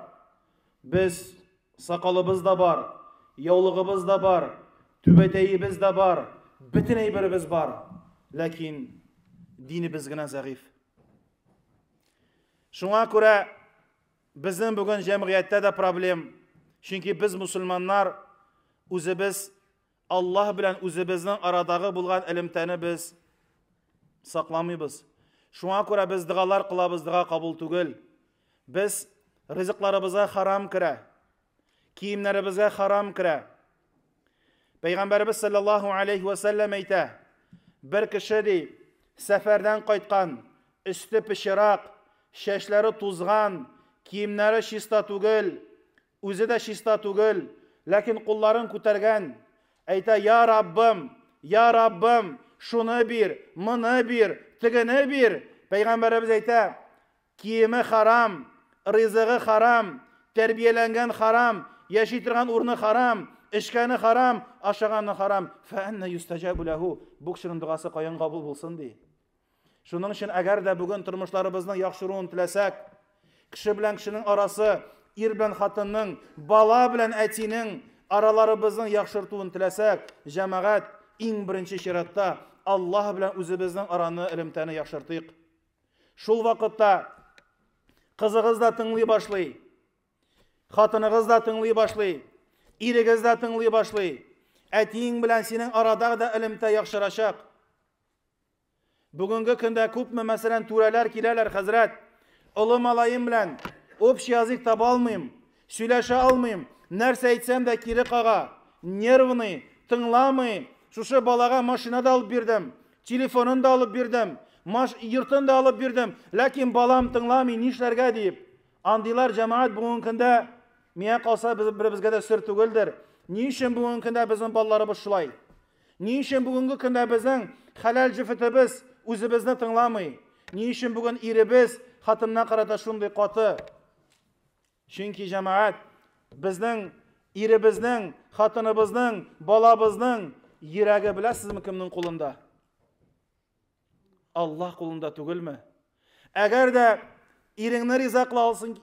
без сакалыбыз да бар, яулыгыбыз да бар, түбәтәебез дә бар, бөтен әйберебез бар. Ләкин динебез генә зәгыйфь. Шуңа күрә безнең бүген җәмгыятьтә дә проблем, чөнки без мусульманнар үзебез Аллаһ белән үзебезнең арадагы булган элемтәне без сакламыйбыз. Шуңа күрә без дыгалар кылабыз, дыга кабул түгел. Без ризыкларыбызга харам керә. Киемнәребезгә харам керә. Пәйгамбәребез саллаллаһу алейхи ва сәлләм әйтә, бер кеше ди, сәфәрдән кайткан, өсте пычырак, чәчләре тузган, киемнәре чиста түгел, үзе дә чиста түгел, ләкин кулларын күтәргән, әйтә, я Раббым, я Раббым, шуны бир, моны бир, тегене бир. Пәйгамбәребез әйтә, Киеме харам, ризыгы харам, тәрбияләнгән харам, яши торган урыны харам, эчкәне харам, ашаганы харам. Фәәннә юстәҗәбу ләһу. Бу кешенең догасы каян кабул булсын ди? Шуның өчен әгәр дә бүген тормышларыбызның яхшыруын теләсәк, кеше белән кешенең арасы, ир белән хатынның, бала белән әтинең араларыбызның яхшыртуын теләсәк, җәмәгать, иң беренче чиратта Аллаһ белән үзебезнең араны, элемтәне яхшыртыйк. Шул вакытта кызыгыз да тыңлый башлый, хатыныгыз да тыңлый башлый, ирегез дә тыңлый башлый. Әтиең белән синең арада да элемтә яхшырачак. Бүгенге көндә күпме, мәсәлән, түрәләр киләләр, хәзрәт, олы малаем белән общий язык таба алмыйм. Сөйләшә алмыйм, нәрсә әйтсәм дә кире кага. Нервный, тыңламый. Шушы балага машина да алып бирдем, телефонын да алып бирдем, маш, йортын да алып бирдем, ләкин балам тыңламый, нишләргә, диеп. Андыйлар, җәмәгать, бүгенге көндә, миңа калса, без, беребезгә дә сер түгелдер. Ни өчен бүгенге көндә безнең балаларыбыз шулай? Ни өчен бүгенге көндә безнең хәләл җефетебез үзебезне тыңламый? Ни өчен бүген иребез хатынына карата шундый каты? Чөнки җәмәгать безнең иребезнең, хатыныбызның, балабызның йөрәге беләсезме кемнең кулында? Аллаһ кулында түгелме? Әгәр дә иреңне риза кыла алсын,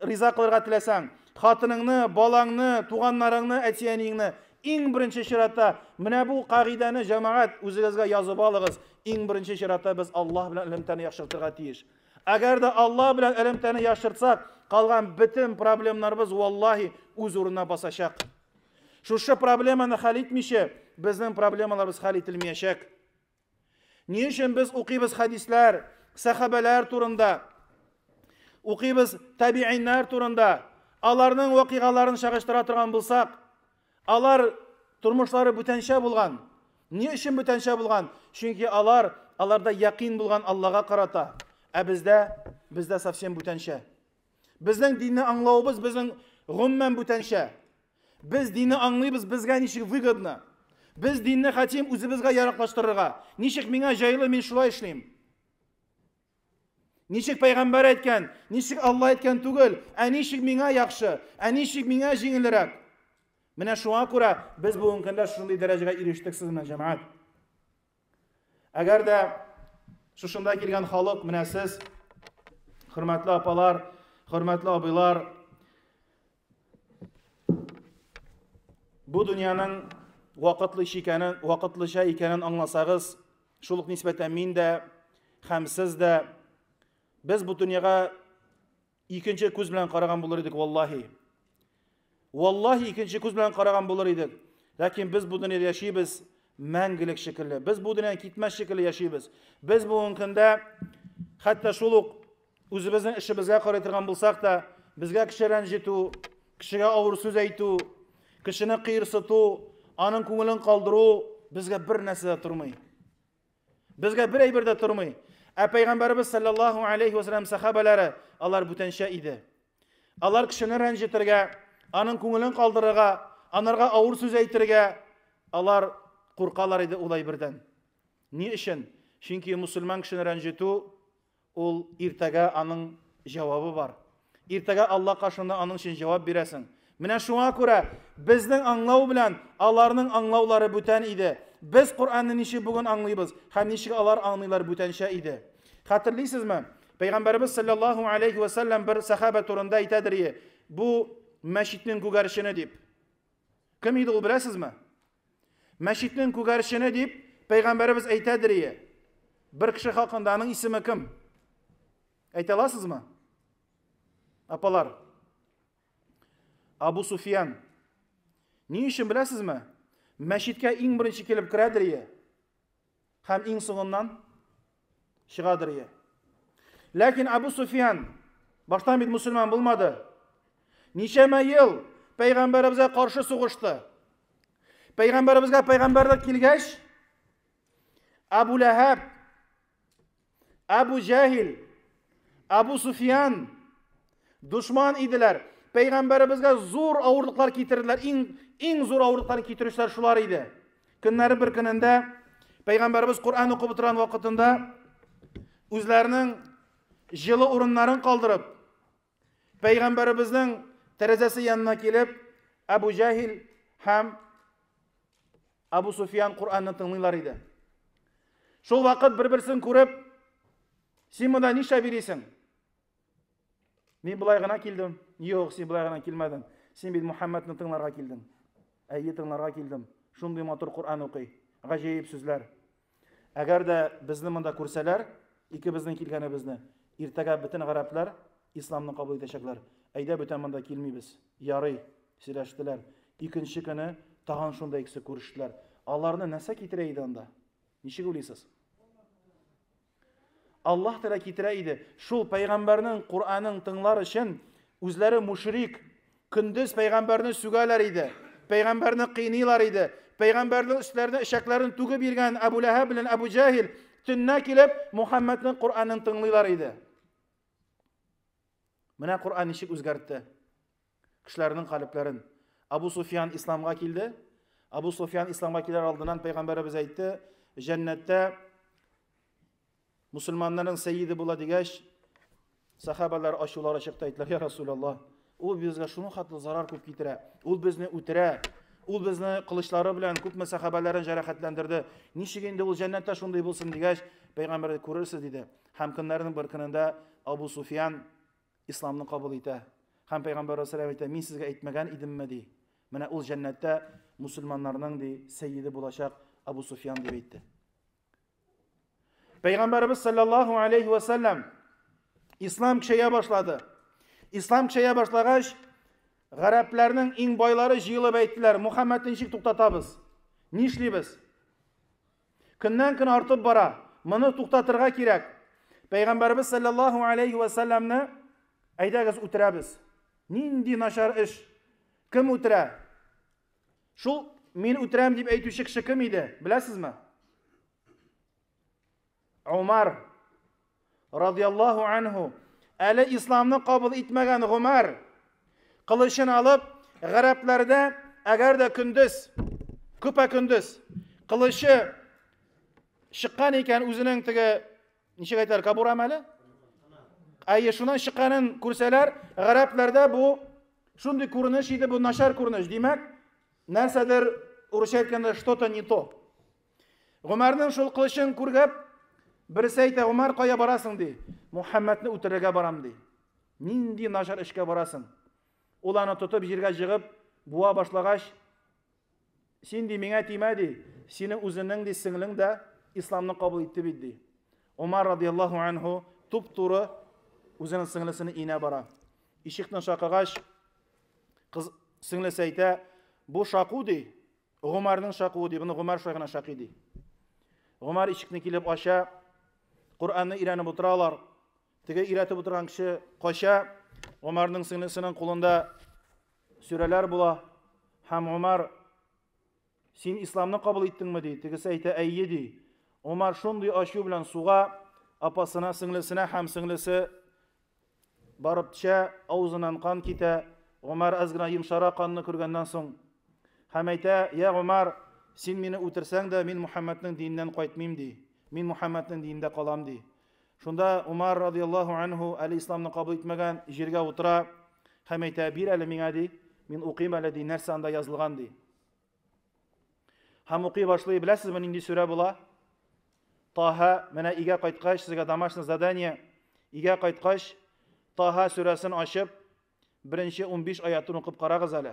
риза кылырга теләсәң, хатыныңны, балаңны, туганнарыңны, әти-әниеңне иң беренче чиратта менә бу кагыйдәне җәмәгать үзегезгә язып алыгыз. Иң беренче чиратта без Аллаһ белән элемтәне яхшыртырга тиеш. Әгәр дә Алла белән элемтәне яшыртсак, калган бөтен проблемнарыбыз валлаһи үз урынына басачак. Шушы проблеманы хәл итмичә, безнең проблемаларыбыз хәл ителмәячәк. Ни өчен без укыйбыз хәдисләр, сәхабәләр турында? Укыйбыз табииннар турында. Аларның вакыйгаларын чагыштыра торган булсак, Алар тормышлары бүтәнчә булган. Ни өчен бүтәнчә булган? Чөнки алар, аларда якин булган Аллага карата. Ә бездә, бездә совсем бүтәнчә. Безнең динне аңлавыбыз безнең гомумән бүтәнчә. Без динне аңлыйбыз, безгә ничек выгодно. Без динне хәтим үзебезгә яраклаштырырга. Ничек миңа җайлы, мин шулай эшлим. Ничек пәйгамбәр әйткән, ничек Алла әйткән түгел, ә ничек миңа яхшы, ә ничек миңа җиңелрәк. Менә шуңа күрә без бүгенге көндә шундый дәрәҗәгә ирештек сез белән җәмәгать. Әгәр дә шушында килгән халык менә сез, хөрмәтле апалар, хөрмәтле абыйлар, Бу дөньяның вакытлы икәнен, вакытлыча икәнен аңласагыз, шул ук нисбәтән мин дә һәм сез дә без бу дөньяга икенче күз белән караган булыр идек, валлаһи. Валлаһи икенче күз белән караган булыр идек. Ләкин без бу дөньяда яшибез мәңгелек шикелле. Без бу дөньядан китмәс шикелле яшибез. Без бүгенге көндә хәтта шул ук Үзебезнең эшебезгә карый торган булсак та, безгә кеше рәнҗетү, кешегә авыр сүз әйтү, кешене кыерсыту, аның күңелен калдыру безгә бер нәрсә дә тормый. Безгә бер әйбер дә тормый. Ә пәйгамбәрбез саллаллаһу алейхи ва саллям сахабалары алар бүтәнчә иде. Алар кешене рәнҗетергә, аның күңелен калдырырга, анарга авыр сүз әйтергә алар куркалар иде улай бердән. Ни өчен? Чөнки мусульман кешене рәнҗетү Ул иртәгә аның җавабы бар. Иртәгә Алла каршында аның өчен җавап бирәсең. Менә шуңа күрә безнең аңлау белән аларның аңлаулары бүтән иде. Без Коръәнне ничек бүген аңлыйбыз һәм ничек алар аңлыйлар бүтәнчә иде. Хәтерлисезме? Пәйгамбәребез саллаллаһу алейхи вә сәлләм бер сәхабә турында әйтәдер, бу мәчетнең күгәрчене дип. Кем иде ул, беләсезме? Мәчетнең күгәрчене дип пәйгамбәребез әйтәдерие. Бер кеше хакында аның исеме кем? Әйтә аласызмы? Апалар. Абу Суфиян. Ни өчен беләсезме? Мәчеткә иң беренче килеп керәдерие. Һәм иң соңыннан чыгадыр ие. Ләкин Абу Суфиян баштан бит мусульман булмады. Ничәмә ел пәйгамбәребезгә каршы сугышты. Пәйгамбәребезгә пәйгамбәрлек килгәч, Абу Ләһәб Абу Җәһил, Абу Суфиян дошман иделәр. Пәйгамбәребезгә зур авырлыклар китерделәр. Иң иң зур авырлыкларны китерүчеләр шулар иде. Көннәре бер көнендә пәйгамбәребез Коръән укып утырган вакытында үзләренең җылы урыннарын калдырып, Пәйгамбәребезнең тәрәзәсе янына килеп, Абу Җәһил һәм Абу Суфиян Куранны тыңлыйлар иде. Шул вакыт бер-берсен күреп, син монда нишлә бирисең? Мин болай гына килдем. Юк, син болай гына килмәдең. Син бит Мухаммадны тыңларга килдең. Әйе, тыңларга килдем. Шундый матур Куран укый. Гаҗәеп сүзләр. Әгәр дә безне монда күрсәләр, икебезнең килгәнебезне, иртәгә бөтен гарәпләр исламны кабул итәчәкләр. Әйдә, бүтән монда килмибез. Ярый, сөйләштеләр. Икенче көне тагын шунда икесе күрештеләр. Аларны нәрсә китерә иде анда? Ничек уйлыйсыз? Аллаһ Тәгалә китерә иде. Шул пәйгамбәрнең Куранын тыңлар өчен үзләре мушрик, Көндез пәйгамбәрне сүгәләр иде, пәйгамбәрне кыйныйлар иде, пәйгамбәрнең өсләренә эчәкләрен түгеп йөргән Әбу Ләһәб белән Әбу Җәһил төннә килеп Мухаммәднең Коръәнен тыңлыйлар иде. Менә Коръән ничек үзгәртте кешеләрнең калебләрен. Абу Суфьян исламга килде. Абу Суфьян исламга килер алдыннан пәйгамбәребез әйтте, җәннәттә Мусульманнарның сәйиде була дигәч, сахабалар ачулары чыкты, әйттеләр, я Расулаллаһ, ул безгә шуның хәтле зарар күп китерә, ул безне үтерә, ул безне кылычлары белән күпме сахабаларын жарахатландырды. Ничек инде ул җәннәттә шундый булсын дигәч, пәйгамбәр күрерсез диде. Һәм көннәрнең бер көнендә Абу Суфиян исламны кабул итә. Һәм пәйгамбәр вәссәлам әйтә, мин сезгә әйтмәгән идемме ди. Менә ул җәннәттә мусульманнарның ди сәйиде булачак Абу Суфиян дип әйтте. Пәйгамбәребез саллаллаху алейхи ва саллям ислам кешегә башлады. Ислам кешегә башлагач, гарәпләрнең иң байлары җыелып әйттеләр, Мухаммад ничек туктатабыз? Нишлибез? Көннән көн артып бара. Моны туктатырга кирәк. Пәйгамбәребез саллаллаху алейхи ва саллямны әйдәгез үтерәбез. Нинди начар эш? Кем үтерә? Шул мин үтерәм дип әйтүче кеше кем иде? Беләсезме? Умар радияллаһу анһу. Әле исламны кабул итмәгән Умар кылычын алып, гарәпләрдә әгәр дә көндез, күпә көндез кылычы чыккан икән үзенең теге Ничек әйтәләр, кабурам әле? Әйе, шуннан чыкканын күрсәләр, гарәпләрдә бу шундый күренеш иде, бу начар күренеш. Димәк, нәрсәдер урысча әйткәндә что-то не то. Гомәрнең шул кылычын күргәп, берсе әйтә, Гомәр, кая барасың ди. Мухаммәдне үтерергә барам ди. Нинди начар эшкә барасың? Ул аны тотып җиргә җыгып, буа башлагач, Син, ди, миңа тимә, ди, синең үзенең, ди, сеңлең дә исламны кабул итте бит, ди. Умар радиаллаху анху туп-туры үзенең сеңлесенең өенә бара. Ишекне шакыгач, кыз сеңлесе әйтә, бу шаку, ди, Гомарның шакуы, ди, буны Гомар шулай гына шакый, ди. Гомар ишекне килеп ача, Коръәнне өйрәнеп утыралар. Теге өйрәтеп утырган кеше кача, Умарның сеңлесенең кулында сүрәләр була, һәм Умар син исламны кабул иттеңме ди, тегесе әйтә әйе ди. Умар шундый ачу белән суга апасына, сеңлесенә һәм сеңлесе барып төшә, авызыннан кан китә. Умар аз гына йомшара канны күргәннән соң һәм әйтә, я Умар, син мине үтерсәң дә, мин Мухаммәднең диненнән кайтмыйм ди. Мин Мухаммәднең динендә калам ди. Шунда Умар радиаллаху анху әле исламны кабул итмәгән, җиргә утыра һәм әйтә, бир әле миңа ди, мин укыйм әле ди, нәрсә анда язылган ди. Һәм укый башлый, беләсезме нинди сүрә була? Таһа, менә игә кайткач, сезгә домашнее задание, игә кайткач, Таһа сүрәсен ачып, беренче 15 аятын укып карагыз әле.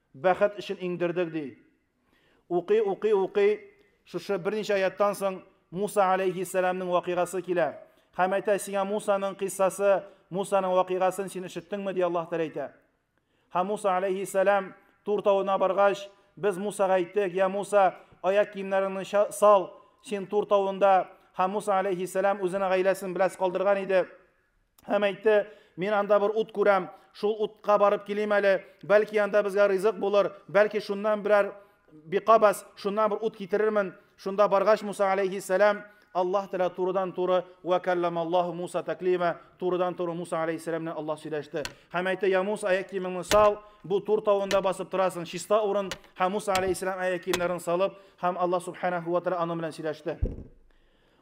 Бәхет өчен иңдердек, ди. Укый, укый, укый, шушы берничә аяттан соң Муса галәйһиссәламнең вакыйгасы килә. Һәм әйтә, сиңа Мусаның кыйссасы, Мусаның вакыйгасын син ишеттеңме, ди Аллаһ Тәгалә әйтә. Һәм Муса галәйһиссәлам Тур тавына баргач, без Мусага әйттек, я Муса, аяк киемнәреңне сал, син Тур тавында. Һәм Муса галәйһиссәлам үзенең гаиләсен беләс калдырган иде. Һәм әйтте, мин анда бер ут күрәм, шул утка барып килим әле, бәлки анда безгә ризык булыр, бәлки шуннан берәр биқабас, шуннан бер ут китерермен. Шунда баргач Муса алейхиссәләм, Аллаһ Тәгалә турыдан туры вә кәлламаллаһу Муса тәклима, турыдан туры Муса алейхиссәләм белән Аллаһ сөйләште. Һәм әйтте, я Муса, аяк киемеңне сал, бу тур тавында басып торасың, чиста урын. Һәм Муса алейхиссәләм аяк киемнәрен салып, һәм Аллаһ субханаһу ва тәгалә аның белән сөйләште.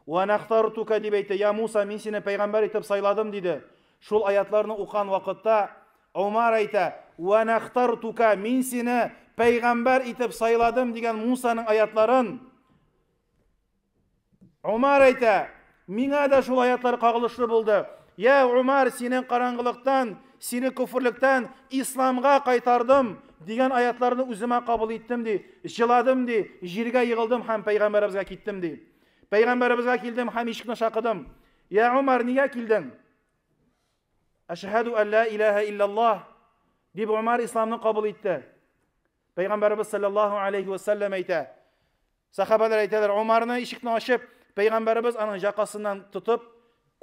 Вә нәхтартука дип әйтте, я Муса, мин сине пәйгамбәр итеп сайладым, диде. Шул аятьларны укыган вакытта Омар әйтә, Вә нәхтартука, мин сине пәйгамбәр итеп сайладым дигән Мусаның аятьларын Омар әйтә, миңа да шул аятьлар кагылышлы булды. Я Омар, сине караңгылыктан, сине күферлектән исламга кайтардым дигән аятларны үземә кабул иттем ди, җыладым ди, җиргә егылдым һәм пәйгамбәребезгә киттем ди. Пәйгамбәребезгә килдем һәм ишекне шакыдым. Я Умар, нигә килдең? Әшһәду алла илаһа иллаллаһ дип Умар исламны кабул итте. Пәйгамбәребез саллаллаһу алейхи ва саллям әйтә. Сахабалар әйтәләр, Умарны ишекне ачып, пәйгамбәребез аның якасыннан тотып,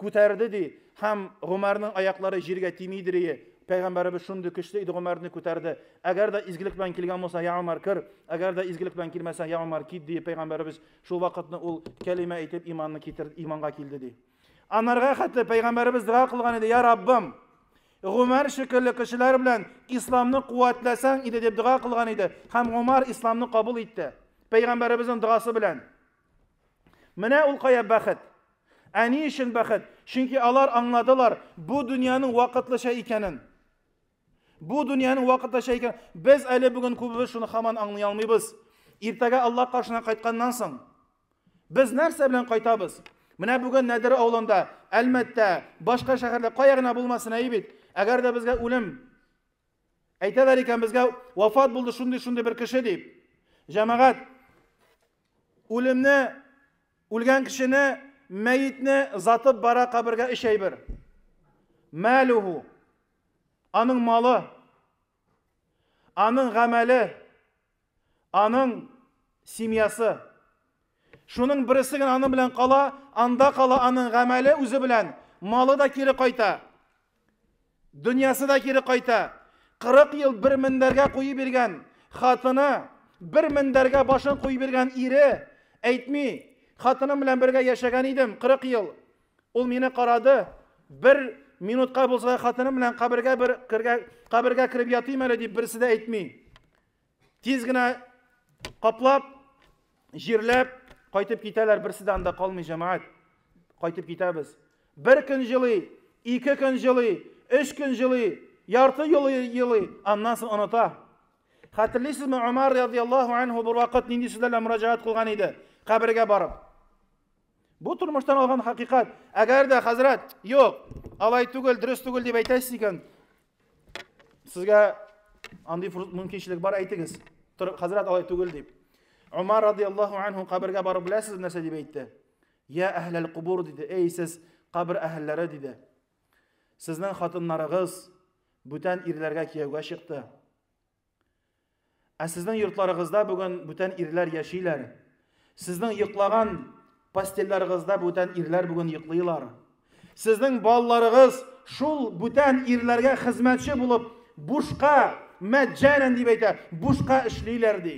Күтәрде, ди, һәм Гомәрнең аяклары җиргә тими идрие, Пәйгамбәребез шундый көчле иде, Гомәрне күтәрде. Әгәр дә изгелек белән килгән булсаң, йә Гомәр, кер, әгәр дә изгелек белән килмәсәң, йә Гомәр, кит, ди, Пәйгамбәребез шул вакытны ул кәлимә әйтеп иманны китерде, иманга килде, ди. Анарга хәтле Пәйгамбәребез дога кылган иде, йә Раббым, Гомәр шикелле кешеләр белән исламны куәтләсәң иде, дип дога кылган иде, һәм Гомәр исламны кабул итте, Пәйгамбәребезнең догасы белән. Менә ул кая бәхет. Ә ни өчен бәхет? Чөнки алар аңладылар бу дөньяның вакытлыча икәнен. Бу дөньяның вакытлыча икән. Без әле бүген күбебез шуны хаман аңлый алмыйбыз. Иртәгә Аллаһ каршына кайтканнан соң без нәрсә белән кайтабыз? Менә бүген Нәдер авылында, Әлмәттә, башка шәһәрдә кая гына булмасын әйбит. Әгәр дә безгә үлем Әйтәләр икән безгә вафат булды шундый-шундый бер кеше дип. Җәмәгать үлемне үлгән кешене мәетне затып бара кабергә өч әйбер. Мәлүһу аның малы, аның гамәле, Аның семьясы. Шуның бересе генә аның белән кала, анда кала аның гамәле үзе белән, малы да кире кайта. Дөньясы да кире кайта. 40 ел бер мендәргә куеп биргән хатыны, бер мендәргә башын куеп биргән ире әйтми, хатыным белән бергә яшәгән идем 40 ел. Ул мине карады. Бер минутка булса да хатыным белән кабергә бер кергә кабергә кереп ятыйм әле дип берсе дә әйтми. Тиз генә каплап, җирләп кайтып китәләр, берсе дә анда калмый җәмәгать. Кайтып китәбез. Бер көн җылый, ике көн җылый, өч көн җылый, ярты елый, елый, аннан соң оныта. Хәтерлисезме, Умар радиаллаһу анһу бер вакыт нинди сүзләр белән мөрәҗәгать кылган иде? Кабергә барып. Бу тормыштан алган хакыйкат. Әгәр дә хәзрәт, юк, алай түгел, дөрес түгел дип әйтәсез икән, сезгә андый мөмкинчелек бар, әйтегез. Хәзрәт алай түгел дип. Умар радиаллаху анху кабергә барып беләсез нәрсә дип әйтте? Я әһләл кубур диде. Эй сез кабер әһелләре диде. Сезнең хатыннарыгыз бүтән ирләргә кияүгә чыкты. Ә сезнең йортларыгызда бүген бүтән ирләр яшиләр. Сезнең йоклаган постельларыгызда бүтән ирләр бүген йоклыйлар. Сезнең балаларыгыз шул бүтән ирләргә хезмәтче булып бушка, мәҗҗәнән дип әйтә, бушка эшлиләр ди.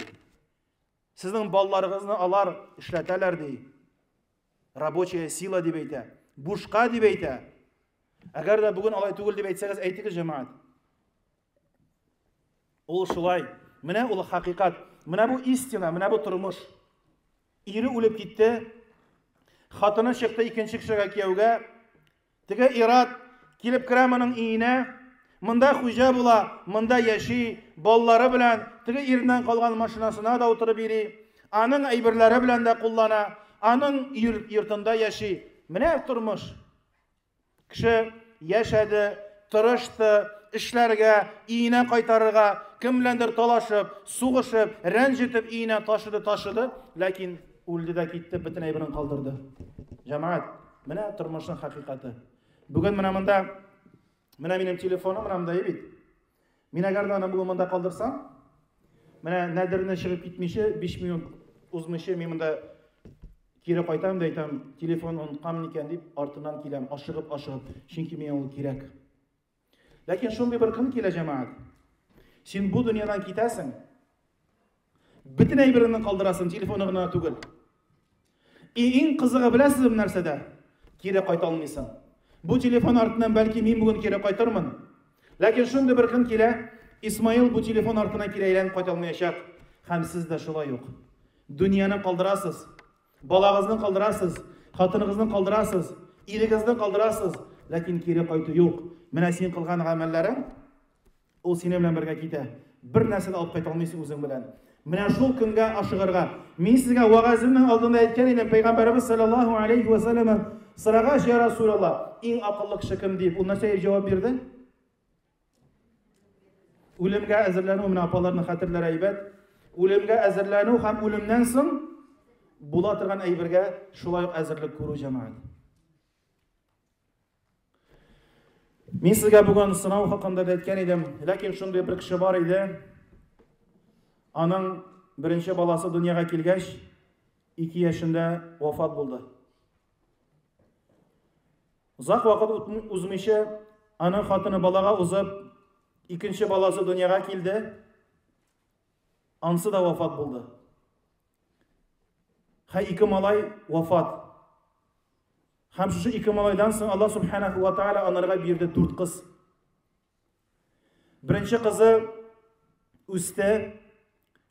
Сезнең балаларыгызны алар эшләтәләр ди. Рабочая сила дип әйтә, бушка дип әйтә. Әгәр дә бүген алай түгел дип әйтсәгез, әйтегез җәмәгать. Ул шулай. Менә ул хакыйкат. Менә бу истина, менә бу тормыш. Ире үлеп китте. Хатыны чыкты икенче кешегә кияүгә. Теге ират килеп керә моның өенә. Монда хуҗа була, монда яши, баллары белән теге иреннән калган машинасына да утырып йөри. Аның әйберләре белән дә куллана, аның йортында яши. Менә тормыш. Кеше яшәде, тырышты, эшләргә, иенә кайтарырга, кем беләндер талашып, сугышып, рәнҗетеп иенә ташыды, ташыды, ләкин үлде дә китте, бөтен әйберен калдырды. Җәмәгать, менә тормышның хакыйкате. Бүген менә монда, менә минем телефоным, менә монда бит. Мин әгәр дә аны бүген монда калдырсам, менә нәдерне чыгып китмичә, 5 минут узмыйча мин монда кире кайтам да әйтәм, телефон оныткам микән дип, артыннан киләм, ашыгып, ашыгып, чөнки миңа ул кирәк. Ләкин шундый бер көн килә, җәмәгать. Син бу дөньядан китәсең, Бөтен әйбереңне калдырасың, телефоны гына түгел. И иң кызыгы беләсезме нәрсәдә? Кире кайта алмыйсың. Бу телефон артыннан бәлки мин бүген кире кайтырмын. Ләкин шундый бер көн килә, Исмаил бу телефон артына кире әйләнеп кайта алмаячак. Һәм сез дә шулай ук. Дөньяны калдырасыз, балагызны калдырасыз, хатыныгызны калдырасыз, ирегезне калдырасыз, ләкин кире кайту юк. Менә син кылган гамәлләрең Ул синең белән бергә китә. Бер нәрсә дә алып кайта алмыйсың үзең белән. Менә шул көнгә ашыгырга. Мин сезгә вагазымның алдында әйткән идем, пәйгамбәребез саллаллаһу алейхи ва саллям сорагач, я Расулаллах, иң акыллы кеше кем дип, ул нәрсә дип җавап бирде? Үлемгә әзерләнү менә апаларның хәтерләре әйбәт. Үлемгә әзерләнү һәм үлемнән соң була торган әйбергә шулай әзерлек күрү җәмәгать. Мин сезгә бүген сынау хакында да әйткән идем, ләкин шундый бер кеше бар иде. Аның беренче баласы дөньяга килгәч, 2 яшендә вафат булды. Озак вакыт узмыйча аның хатыны балага узып, икенче баласы дөньяга килде. Ансы да вафат булды. Хә ике малай вафат. Һәм шушы ике малайдан соң Аллаһ Субханаху ва Тааля анарга бирде дүрт кыз. Беренче кызы үсте,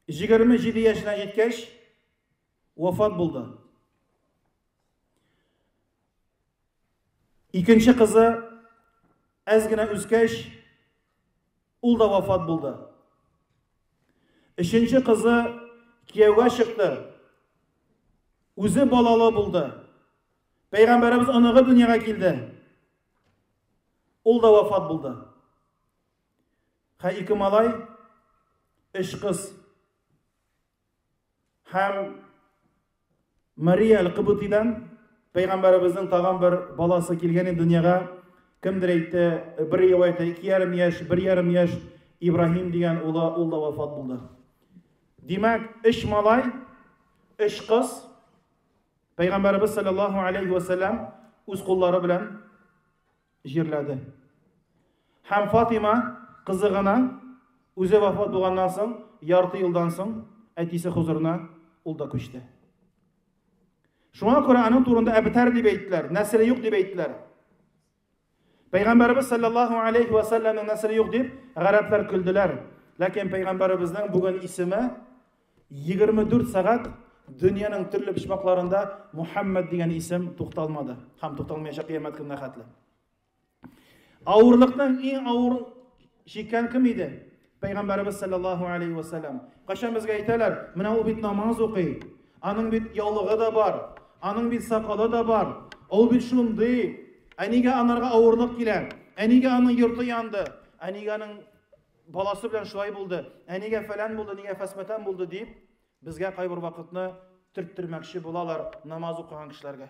27 яшенә җиткәч, вафат булды. Икенче кызы әз генә үскәч, Ул да вафат булды. Өченче кызы кияүгә чыкты. Үзе балалы булды. Пәйгамбәребез оныгы дөньяга килде. Ул да вафат булды. Хә ике малай, өч кыз. Һәм Мария Аль-Кыбытидан пәйгамбәребезнең тагын бер баласы килгән иде дөньяга. Кемдер әйтте, бер риваятта 2,5 яшь, 1,5 яшь Ибраһим дигән улы, ул да вафат булды. Димәк, өч малай, өч кыз пәйгамбәребез саллаллаху алейхи ва саллям үз куллары белән җирләде. Һәм Фатыйма кызы гына үзе вафат булганнан соң, ярты елдан соң әтисе хозурына ул да күчте. Шуңа күрә аның турында әбтәр дип әйттеләр, нәселе юк дип әйттеләр. Пәйгамбәрбез саллаллаху алейхи ва салламның нәселе юк дип гарәпләр көлделәр. Ләкин пәйгамбәрбезнең бүген исеме Егерме дүрт сәгать дөньяның төрле почмакларында Мухаммад дигән исем тукталмады һәм тукталмаячак кыямәт көненә хәтле. Авырлыкның иң авыр чиккән кем иде? Пәйгамбәрбез саллаллаһу алейхи ва саллям. Кайчан безгә әйтәләр, менә ул бит намаз укый, аның бит яулыгы да бар, аның бит сакалы да бар, ул бит шундый, әнигә анарга авырлык килә, әнигә аның йорты янды, әнигә аның Баласы белән шулай булды, әнигә фәлән булды, нигә фәсмәтән булды дип, безгә кайбер вакытны төрттермәкче булалар намаз укыган кешеләргә.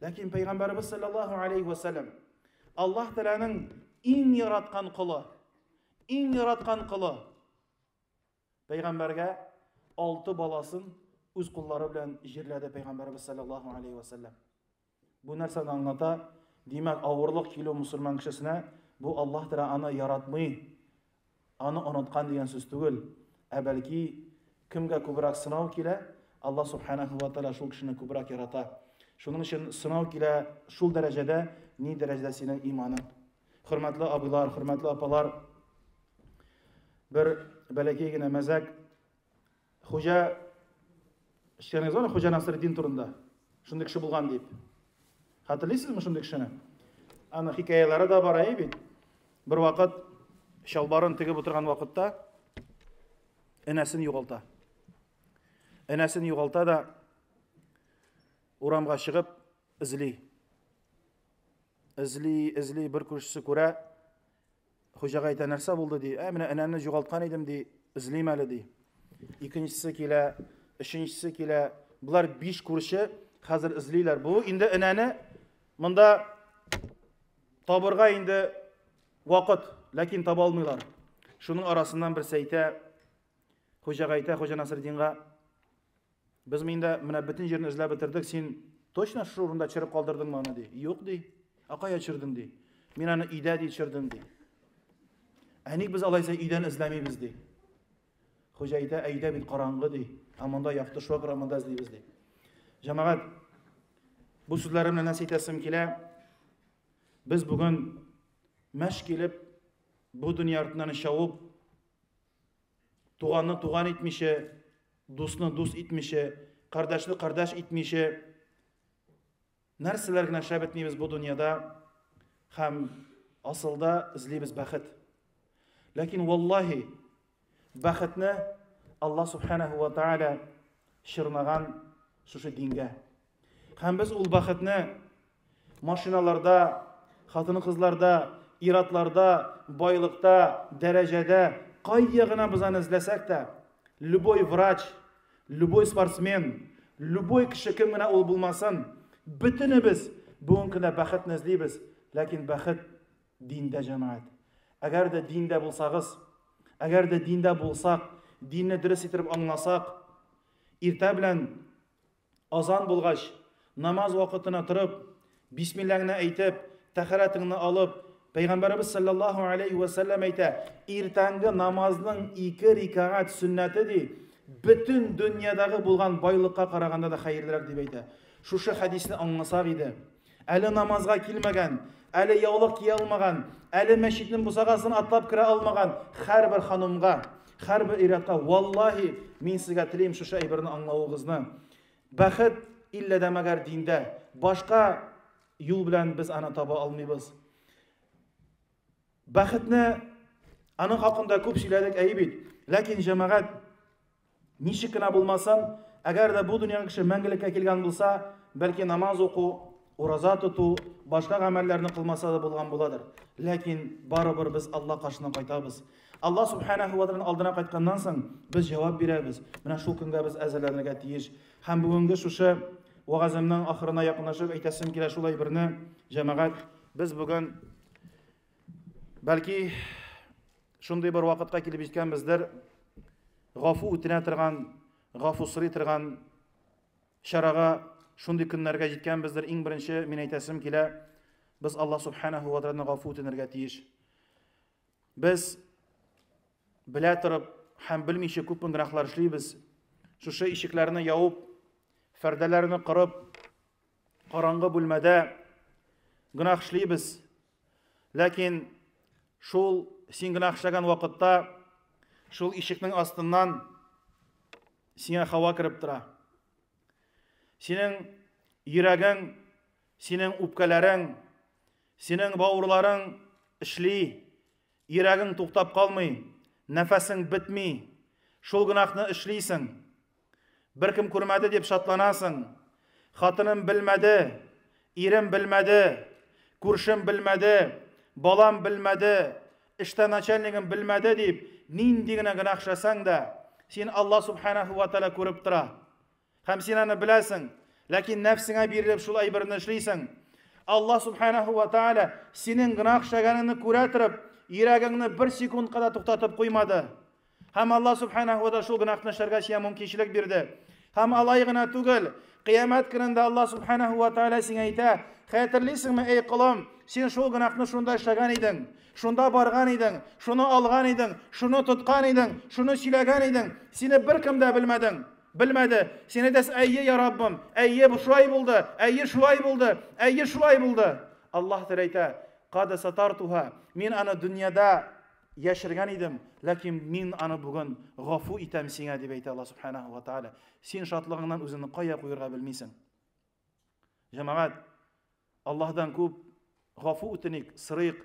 Ләкин пәйгамбәрбез саллаллаһу алейхи ва саллям Аллаһ Тәгаләнең иң яраткан колы, иң яраткан колы Пәйгамбәргә алты баласын үз куллары белән җирләде пәйгамбәрбез саллаллаһу алейхи ва саллям. Бу нәрсәне аңлата? Димәк, авырлык килү мусульман кешесенә бу Аллаһ Тәгалә аны яратмый, аны оныткан дигән сүз түгел, ә бәлки кемгә күбрәк сынау килә, Аллаһ субханаһу ва тәгалә шул кешене күбрәк ярата. Шуның өчен сынау килә шул дәрәҗәдә, ни дәрәҗәдә синең иманың. Хөрмәтле абыйлар, хөрмәтле апалар, бер бәләкәй генә мәзәк. Хуҗа Шәнәз аны Хуҗа Насреддин турында. Шундый кеше булган дип. Хәтерлисезме шундый кешене? Аны хикаялары да бар әй бит. Бер вакыт чалбарын тегеп утырган вакытта энәсен югалта. Энәсен югалта да урамга чыгып эзли. Эзли, эзли, бер күршесе күрә, хуҗага әйтә, нәрсә булды, ди, ә менә энәмне югалткан идем, ди, эзлим әле, ди. Икенчесе килә, өченчесе килә, болар биш күрше хәзер эзлиләр. Бу инде энәне монда табырга инде вакыт, ләкин таба алмыйлар. Шуның арасыннан берсе әйтә, хуҗага әйтә, хуҗа Насреддинга, Без миндә менә бөтен җирне эзләп бетердек, син точно шушы урында чырып калдырдыңмы аны, ди. Юк, ди. Ә кая чырдың, ди. Мин аны өйдә, ди, чырдым, ди. Ә ник без алайса өйдән эзләмибез, ди. Хуҗа әйтә, ә өйдә бит караңгы, ди. Ә монда якты шуа күрә монда эзлибез, ди. Җәмәгать, бу сүзләремне нәрсә әйтәсем килә? Без бүген мәш килеп, бу дөнья артыннан шавып, туганны туган итмичә, Дусны дус итмичә, кардәшне кардәш итмичә, нәрсәләр генә шәп итмибез бу дөньяда һәм асылда эзлибез бәхет. Ләкин валлаһи бәхетне Аллаһ субханаһу ва тааля чырмаган шушы дингә. Һәм без ул бәхетне машиналарда, хатын-кызларда, иратларда, байлыкта, дәрәҗәдә, кайда гына без аны эзләсәк тә, любой врач, любой спортсмен, любой кеше кем генә ул булмасын, бөтенебез бүгенге көндә бәхетне эзлибез, ләкин бәхет диндә, җәмәгать. Әгәр дә диндә булсагыз, әгәр дә диндә булсак, динне дөрес итеп аңласак, иртә белән Азан булгач, намаз вакытына торып, бисмилләңне әйтеп, тәһарәтеңне алып, Пәйгамбәребез саллаллаһу алейхи вә сәлләм әйтә, иртәнге намазның ике рикагать сөннәте ди, бөтен дөньядагы булган байлыкка караганда да хәерлерәк дип әйтә. Шушы хәдисне аңласак иде. Әле намазга килмәгән, әле яулык кия алмаган, әле мәчетнең бусагасын атлап керә алмаган һәрбер ханымга, һәрбер ир-атка, валлаһи, мин сезгә телим шушы әйберне аңлавыгызны. Бәхет иллә дә мәгәр диндә. Башка юл белән без аны таба алмыйбыз. Бәхетне аның хакында күп сөйләдек, әйе бит. Ләкин җәмәгать Ничек кенә булмасын, әгәр дә бу дөньяга кеше мәңгелеккә килгән булса, бәлки намаз уку, ураза тоту, башка гамәлләрне кылмаса да булган буладыр. Ләкин барыбер без Алла каршына кайтабыз. Алла субханаһу ва тааляның алдына кайтканнан соң без җавап бирәбез. Менә шул көнгә без әзерләнергә тиеш. Һәм бүгенге шушы вагазымның ахырына якынлашып әйтәсем килә шулай берне, җәмәгать, без бүген Бәлки шундый бер вакытка килеп җиткәнбездер, гафу үтенә торган, гафу сорый торган чарага шундый көннәргә җиткәнбездер. Иң беренче мин әйтәсем килә, без Алла субханаһу ва тааладан гафу үтенергә тиеш. Без белә торып һәм белмичә күп гөнаһлар эшлибез. Шушы ишекләрне явып, фәрдәләрне кырып, караңгы бүлмәдә гөнаһ эшлибез. Ләкин шул син генә акчаган вакытта шул ишекнең астыннан сиңа хава кереп тора. Синең йөрәгең, синең үпкәләрең, синең бауырларың эшли, йөрәгең туктап калмый, нәфәсең бетми. Шул гынахны эшлисең. Беркем күрмәде дип шатланасың. Хатыным белмәде, ирем белмәде, күршем белмәде, балам белмәде, эштә начальнигым белмәде дип, нинди генә гөнаһ эшләсәң дә, син Алла субханаху ва тәгалә күреп тора. Һәм син аны беләсең, ләкин нәфсеңә бирелеп шул әйберне эшлисең. Алла субханаху ва тәгалә синең гөнаһ эшләгәнеңне күрә торып, йөрәгеңне бер секундка да туктатып куймады. Һәм Аллаһ Субханаһу ва шул гөнаһны эшләргә сиңа мөмкинчелек бирде. Һәм алай гына түгел, кыямәт көнендә Аллаһ Субханаһу ва Тааля сиңа әйтә, хәтерлисеңме, эй колым, син шул гөнаһны шунда эшләгән идең, шунда барган идең, шуны алган идең, шуны тоткан идең, шуны сөйләгән идең, сине беркем дә белмәдең. Белмәде. Син әйтәсең, әйе, я Раббым, әйе, бу шулай булды, әйе, шулай булды, әйе, шулай булды. Аллаһ Тәгалә әйтә, када сатартуһа, мин аны дөньяда Яшергән идем, ләкин мин аны бүген гафу итәм сиңа, дип әйтә Аллаһ Субханаһу ва Тааля. Син шатлыгыңнан үзеңне кая куерга белмисең. Җәмәгать, Аллаһдан күп гафу үтеник, сырыйк.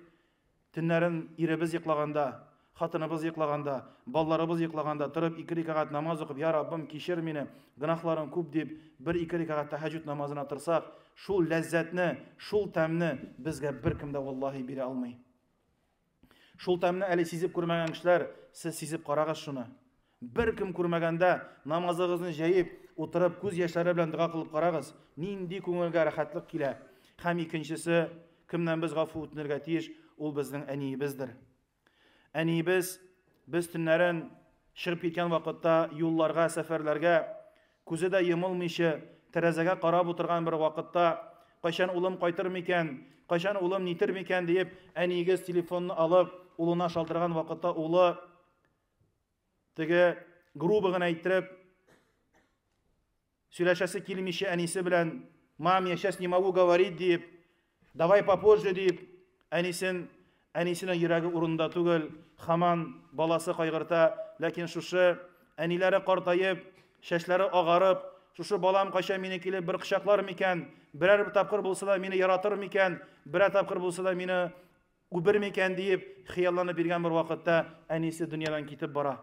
Төннәрен иребез йоклаганда, хатыныбыз йоклаганда, балаларыбыз йоклаганда торып ике рикагать намаз укып, я Раббым, кичер мине, гөнаһларым күп дип, бер-ике рикагать тәһәҗҗүд намазына торсак, шул ләззәтне, шул тәмне безгә беркем дә валлаһи бирә алмый. Шул тәмне әле сизеп күрмәгән кешеләр, сез сизеп карагыз шуны. Беркем күрмәгәндә, намазыгызны җәеп, утырып, күз яшьләре белән дога кылып карагыз, нинди күңелгә рәхәтлек килә. Һәм икенчесе, кемнән без гафу үтенергә тиеш, ул безнең әниебездер. Әниебез без төннәрен чыгып киткән вакытта юлларга, сәфәрләргә Күзе дә йомылмыйча, тәрәзәгә карап утырган бер вакытта, Кайчан улым кайтыр микән? Кайчан улым нитер микән? диеп, әниегез телефонны алып, улына шалтыраган вакытта улы теге грубо гына әйттереп сөйләшәсе килмичә әнисе белән мам, я сейчас не могу говорить диеп, Давай попозже дип, әнисен, әнисенең йөрәге урында түгел, хаман баласы кайгырта, ләкин шушы әниләре картаеп, чәчләре агарып, шушы балам кайча мине килеп бер кочаклар микән, берәр тапкыр булса да мине яратыр микән, берәр тапкыр булса да мине үбер микән диеп хыялланып биргән бер вакытта әнисе дөньядан китеп бара.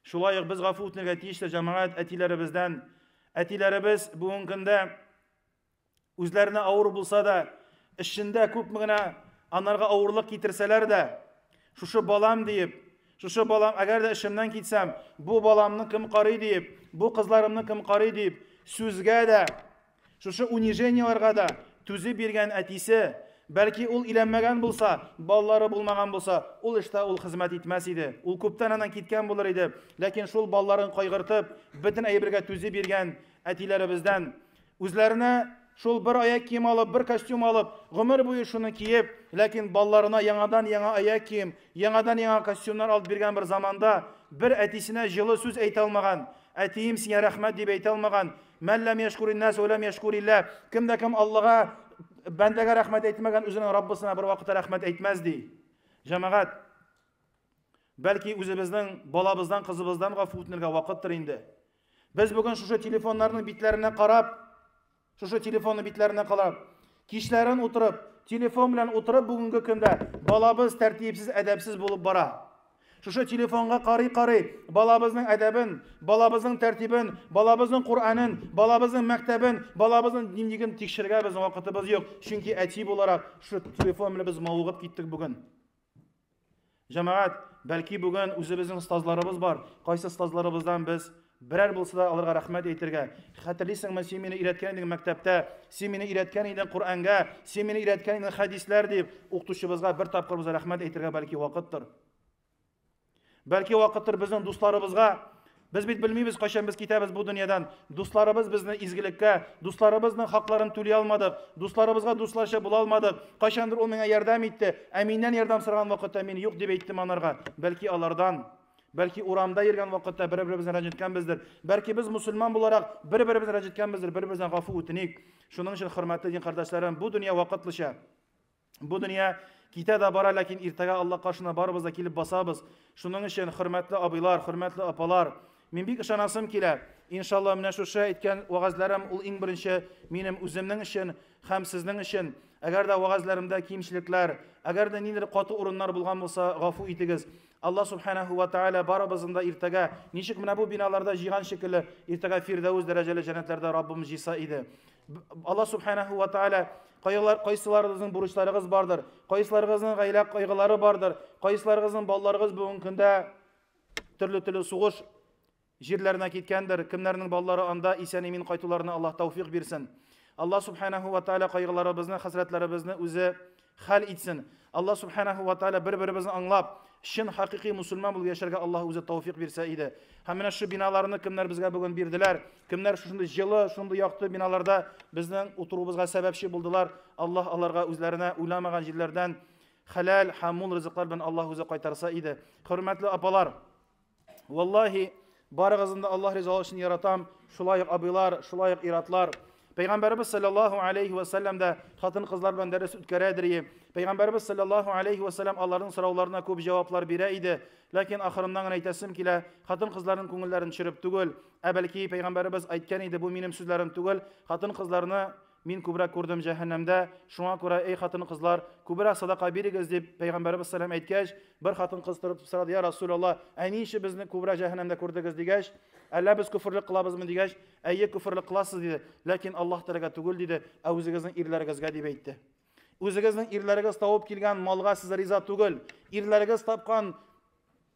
Шулай ук без гафу үтенергә тиеш тә җәмәгать әтиләребездән. Әтиләребез бүгенге көндә Үзләренә авыр булса да, эшчендә күпме генә анарга авырлык китерсәләр дә, шушы балам диеп, шушы балам, әгәр дә эшемнән китсәм, бу баламны кем карый диеп, бу кызларымны кем карый диеп, сүзгә дә, шушы унижениеларга да түзеп биргән әтисе, бәлки ул иләнмәгән булса, балалары булмаган булса, ул эштә ул хезмәт итмәс иде. Ул күптән аннан киткән булыр иде. Ләкин шул балаларын кайгыртып, бөтен әйбергә түзеп биргән әтиләребездән Үзләренә шул бер аяк кием алып, бер костюм алып, гомер буе шуны киеп, ләкин балаларына яңадан-яңа аяк кием, яңадан-яңа костюмнар алып биргән бер заманда, бер әтисенә җылы сүз әйтә алмаган, Әтием, сиңа рәхмәт, дип әйтә алмаган, мән ләм яшкури нәс вә ләм яшкури лә, кем дә кем Аллага, бәндәгә рәхмәт әйтмәгән, үзенең Раббысына бервакытта рәхмәт әйтмәс, ди. Җәмәгать, бәлки үзебезнең балабыздан, кызыбыздан гафу үтенергә вакыттыр инде. Без бүген шушы телефоннарның битләренә карап, шушы телефонның битләренә карап, кичләрен утырып, телефон белән утырып бүгенге көндә балабыз тәртипсез, әдәпсез булып бара. Шушы телефонга карый-карый балабызның әдәбен, балабызның тәртибен, балабызның Куранын, балабызның мәктәбен, балабызның динлеген тикшергә без вакытыбыз юк. Чөнки әти буларак шушы телефон белән без мавыгып киттек бүген. Җәмәгать, бәлки бүген үзебезнең остазларыбыз бар, кайсы остазларыбыздан без берәр булса да аларга рәхмәт әйтергә. Хәтерлисеңме, син мине өйрәткән идең мәктәптә, син мине өйрәткән идең Коръәнгә, син мине өйрәткән идең хәдисләр дип, укытучыбызга бер тапкыр без рәхмәт әйтергә бәлки вакыттыр. Бәлки вакыттыр безнең дусларыбызга Без бит белмибез, кайчан без китәбез бу дөньядан. Дусларыбыз безне изгелеккә, дусларыбызның хакларын түли алмадык, дусларыбызга дусларча була алмадык. Кайчандыр ул миңа ярдәм итте, ә миннән ярдәм сораган вакытта мин юк дип әйттем анарга. Бәлки алардан Бәлки урамда йөргән вакытта бер-беребезне рәнҗеткәнбездер. Бәлки без мусульман буларак бер-беребезне рәнҗеткәнбездер, бер-беребездән гафу үтеник. Шуның өчен хөрмәтле дин кардәшләрем, бу дөнья вакытлыча. Бу дөнья китә дә бара, ләкин иртәгә Алла каршына барыбыз да килеп басабыз. Шуның өчен, хөрмәтле абыйлар, хөрмәтле апалар, мин бик ышанасым килә. Иншалла, менә шушы әйткән вәгазьләрем ул иң беренче минем үземнең өчен һәм сезнең өчен. Әгәр дә вәгазьләремдә кимчелекләр, әгәр дә ниндидер каты урыннар булган булса, гафу итегез. Алла субханаһу ва тааля барыбызны да иртәгә, ничек менә бу биналарда җыйган шикелле, иртәгә Фирдәүс дәрәҗәле җәннәтләрдә Раббым җыйса иде. Алла субханаһу ва тааля Кайгылар, кайсыларыгызның бурычларыгыз бардыр, кайсыларыгызның гаилә кайгылары бардыр, кайсыларыгызның балаларыгыз бүгенге көндә төрле-төрле сугыш җирләренә киткәндер, кемнәрнең балалары анда исән-имин кайтуларына Аллаһ тәүфик бирсен. Аллаһ субханаһу ва тааля кайгыларыбызны, хәсрәтләребезне үзе хәл итсен. Аллаһ субханаһу ва тааля бер-беребезне аңлап, чын хакыйкый мусульман булып яшәргә Аллаһ үзе тәүфик бирсә иде. Һәм менә шу биналарны кемнәр безгә бүген бирделәр? Кемнәр шушындый җылы, шундый якты биналарда безнең утыруыбызга сәбәпче булдылар. Аллаһ аларга үзләренә уйламаган җирләрдән хәләл һәм мул ризыклар белән Аллаһ үзе кайтарса иде. Хөрмәтле апалар, валлаһи, барыгызны да Аллаһ ризалыгы өчен яратам. Шулай ук абыйлар, шулай ук иратлар. Пәйгамбәрбез саллаллаһу алейхи ва саллям да хатын кызлар белән дәрес үткәрә дирие. Пәйгамбәрбез саллаллаһу алейхи ва саллям аларның сорауларына күп җаваплар бирә иде. Ләкин ахырыннан гына әйтәсем килә, хатын кызларның күңелләрен төшереп түгел, Ә бәлки пәйгамбәребез әйткән иде, бу минем сүзләрем түгел, хатын-кызларны мин күбрәк күрдем җәһәннәмдә, шуңа күрә, эй хатын-кызлар, күбрәк садака бирегез, дип пәйгамбәребез сәлам әйткәч, бер хатын-кыз торып сорады, я Расул Аллаһ, ә ни өчен безне күбрәк җәһәннәмдә күрдегез, дигәч, әллә без көферлек кылабызмы, дигәч, әйе, көферлек кыласыз, диде, ләкин Аллаһ Тәләгә түгел, диде, ә үзегезнең ирләрегезгә, дип әйтте. Үзегезнең ирләрегез тавып килгән малга сез риза түгел, ирләрегез тапкан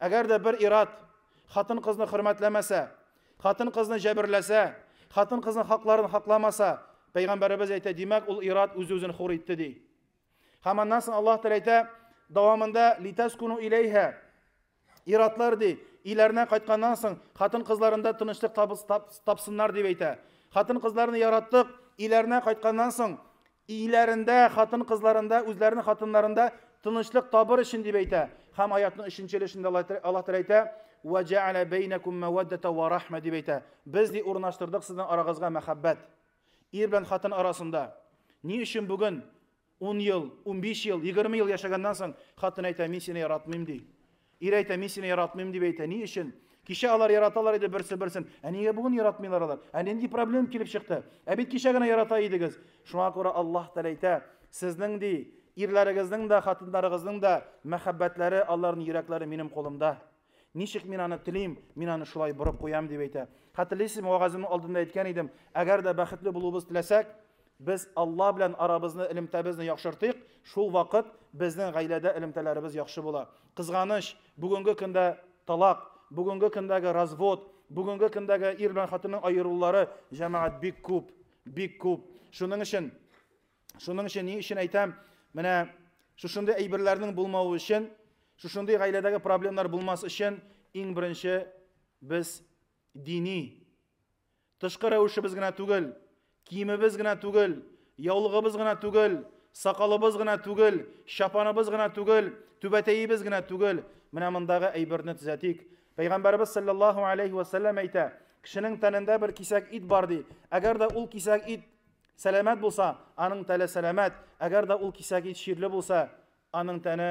Әгәр дә бер ир-ат хатын-кызны хөрмәтләмәсә, хатын-кызны җәберләсә, хатын-кызның хакларын хакламаса, Пәйгамбәребез әйтә, димәк, ул ир-ат үз-үзен хур итте, ди. Һәм аннан соң Аллаһ Тәгалә әйтә, дәвамында литаскуну иләйһә. Ир-атлар ди, иләренә кайтканнан соң хатын-кызларында тынычлык тапсыннар дип әйтә. Хатын-кызларны яраттык, иләренә кайтканнан соң Өйләрендә, хатын-кызларында, үзләренең хатыннарында тынычлык табыр өчен дип әйтә. Һәм аятның өченче өлешендә Аллаһ Тәгалә әйтә, "Вә җәгәлә бәйнәкум мәвәддәтә вә рахмә" дип әйтә. Без ди урнаштырдык сезнең арагызга мәхәббәт. Ир белән хатын арасында. Ни өчен бүген 10 ел, 15 ел, 20 ел яшәгәннән соң хатын әйтә, мин сине яратмыйм ди. Ир әйтә, мин сине яратмыйм дип әйтә. Ни өчен? Кичә алар яраталар иде берсе-берсен. Ә нигә бүген яратмыйлар алар? Ә нинди проблем килеп чыкты? Ә бит кичә генә ярата идегез. Шуңа күрә Аллаһ Тәгалә әйтә, сезнең ди, ирләрегезнең дә, хатыннарыгызның да мәхәббәтләре, аларның йөрәкләре минем кулымда. Ничек мин аны телим, мин аны шулай борып куям дип әйтә. Хәтерлисезме, вагазымның алдында әйткән идем, әгәр дә бәхетле булуыбыз теләсәк, Без Алла белән арабызны, элемтәбезне яхшыртыйк, шул вакыт безнең гаиләдә элемтәләребез яхшы була. Кызганыч, бүгенге көндә талак, бүгенге көндәге развод, бүгенге көндәге ир белән хатынның аерылулары җәмәгать бик күп, бик күп. Шуның өчен, шуның өчен ни өчен әйтәм, менә шушындый әйберләрнең булмавы өчен, шушындый гаиләдәге проблемнар булмас өчен иң беренче без дини Тышкы рәвешебез генә түгел, киемебез генә түгел, яулыгыбыз гына түгел, сакалыбыз гына түгел, чапаныбыз гына түгел, түбәтәебез генә түгел. Менә мондагы әйберне төзәтик. Пәйгамбәребез саллаллаһу алейхи ва сәлләм әйтә, кешенең тәнендә бер кисәк ит бар ди. Әгәр дә ул кисәк ит сәламәт булса, аның тәле сәламәт. Әгәр дә ул кисәк ит чирле булса, аның тәне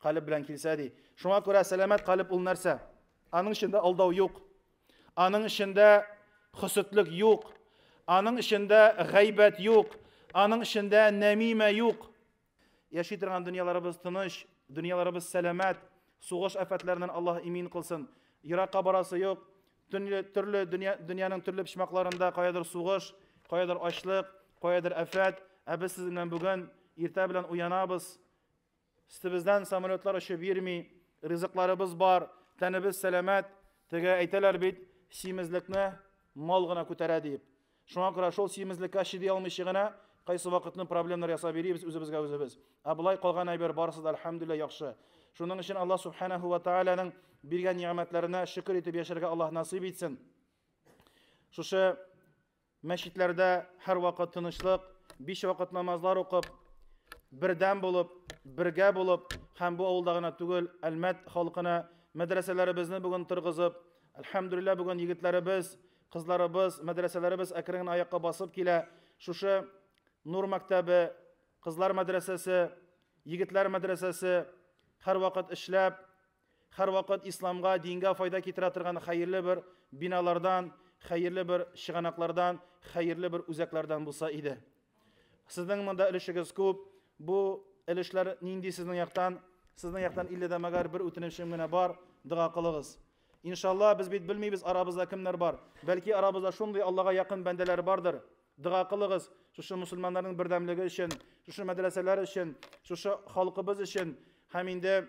Калеб белән килсә ди. Шуңа күрә сәламәт калеб ул нәрсә? Аның эчендә алдау юк. Аның эчендә хөсетлек юк. Аның эчендә гайбәт юк. Аның эчендә нәмимә юк. Яши торган дөньяларыбыз тыныч, дөньяларыбыз сәламәт. Сугыш афәтләреннән Аллаһ имин кылсын. Еракка барасы юк. Төрле төрле дөнья дөньяның төрле почмакларында каядыр сугыш, каядыр ачлык, каядыр афәт. Ә без сезнең белән бүген иртә белән уянабыз. Өстебездән самолетлар очып йөрми, ризыкларыбыз бар, тәнебез сәламәт. Теге әйтәләр бит, симезлекне мал гына күтәрә диеп. Шуңа күрә шул симезлеккә чиди алмыйча гына кайсы вакытны проблемнар ясап йөрибез үзебезгә үзебез. Ә болай калган әйбер барысы да альхамдулилла яхшы. Шуның өчен Аллаһ субханаһу ва тааляның биргән ни'мәтләренә шөкер итеп яшәргә Аллаһ насыйп итсен. Шушы Мәчетләрдә һәрвакыт тынычлык, биш вакыт намазлар укып, бердәм булып, бергә булып һәм бу авылда гына түгел, Әлмәт халкына мәдрәсәләребезне бүген торгызып, әлхәмдүлилләһ, бүген егетләребез, кызларыбыз, мәдрәсәләребез әкрен генә аякка басып килә. Шушы Нур мәктәбе, кызлар мәдрәсәсе, егетләр мәдрәсәсе һәрвакыт эшләп, Һәрвакыт исламга, дингә файда китерә торган хәерле бер биналардан, хәерле бер чыганаклардан, хәерле бер үзәкләрдән булса иде. Сезнең монда өлешегез күп. Бу өлешләр нинди сезнең яктан? Сезнең яктан илле дә мәгәр бер үтенечем генә бар, дога кылыгыз. Иншалла, без бит белмибез арабызда кемнәр бар. Бәлки арабызда шундый Аллага якын бәндәләр бардыр. Дога кылыгыз, шушы мусульманнарның бердәмлеге өчен, шушы мәдрәсәләр өчен, шушы халкыбыз өчен һәм инде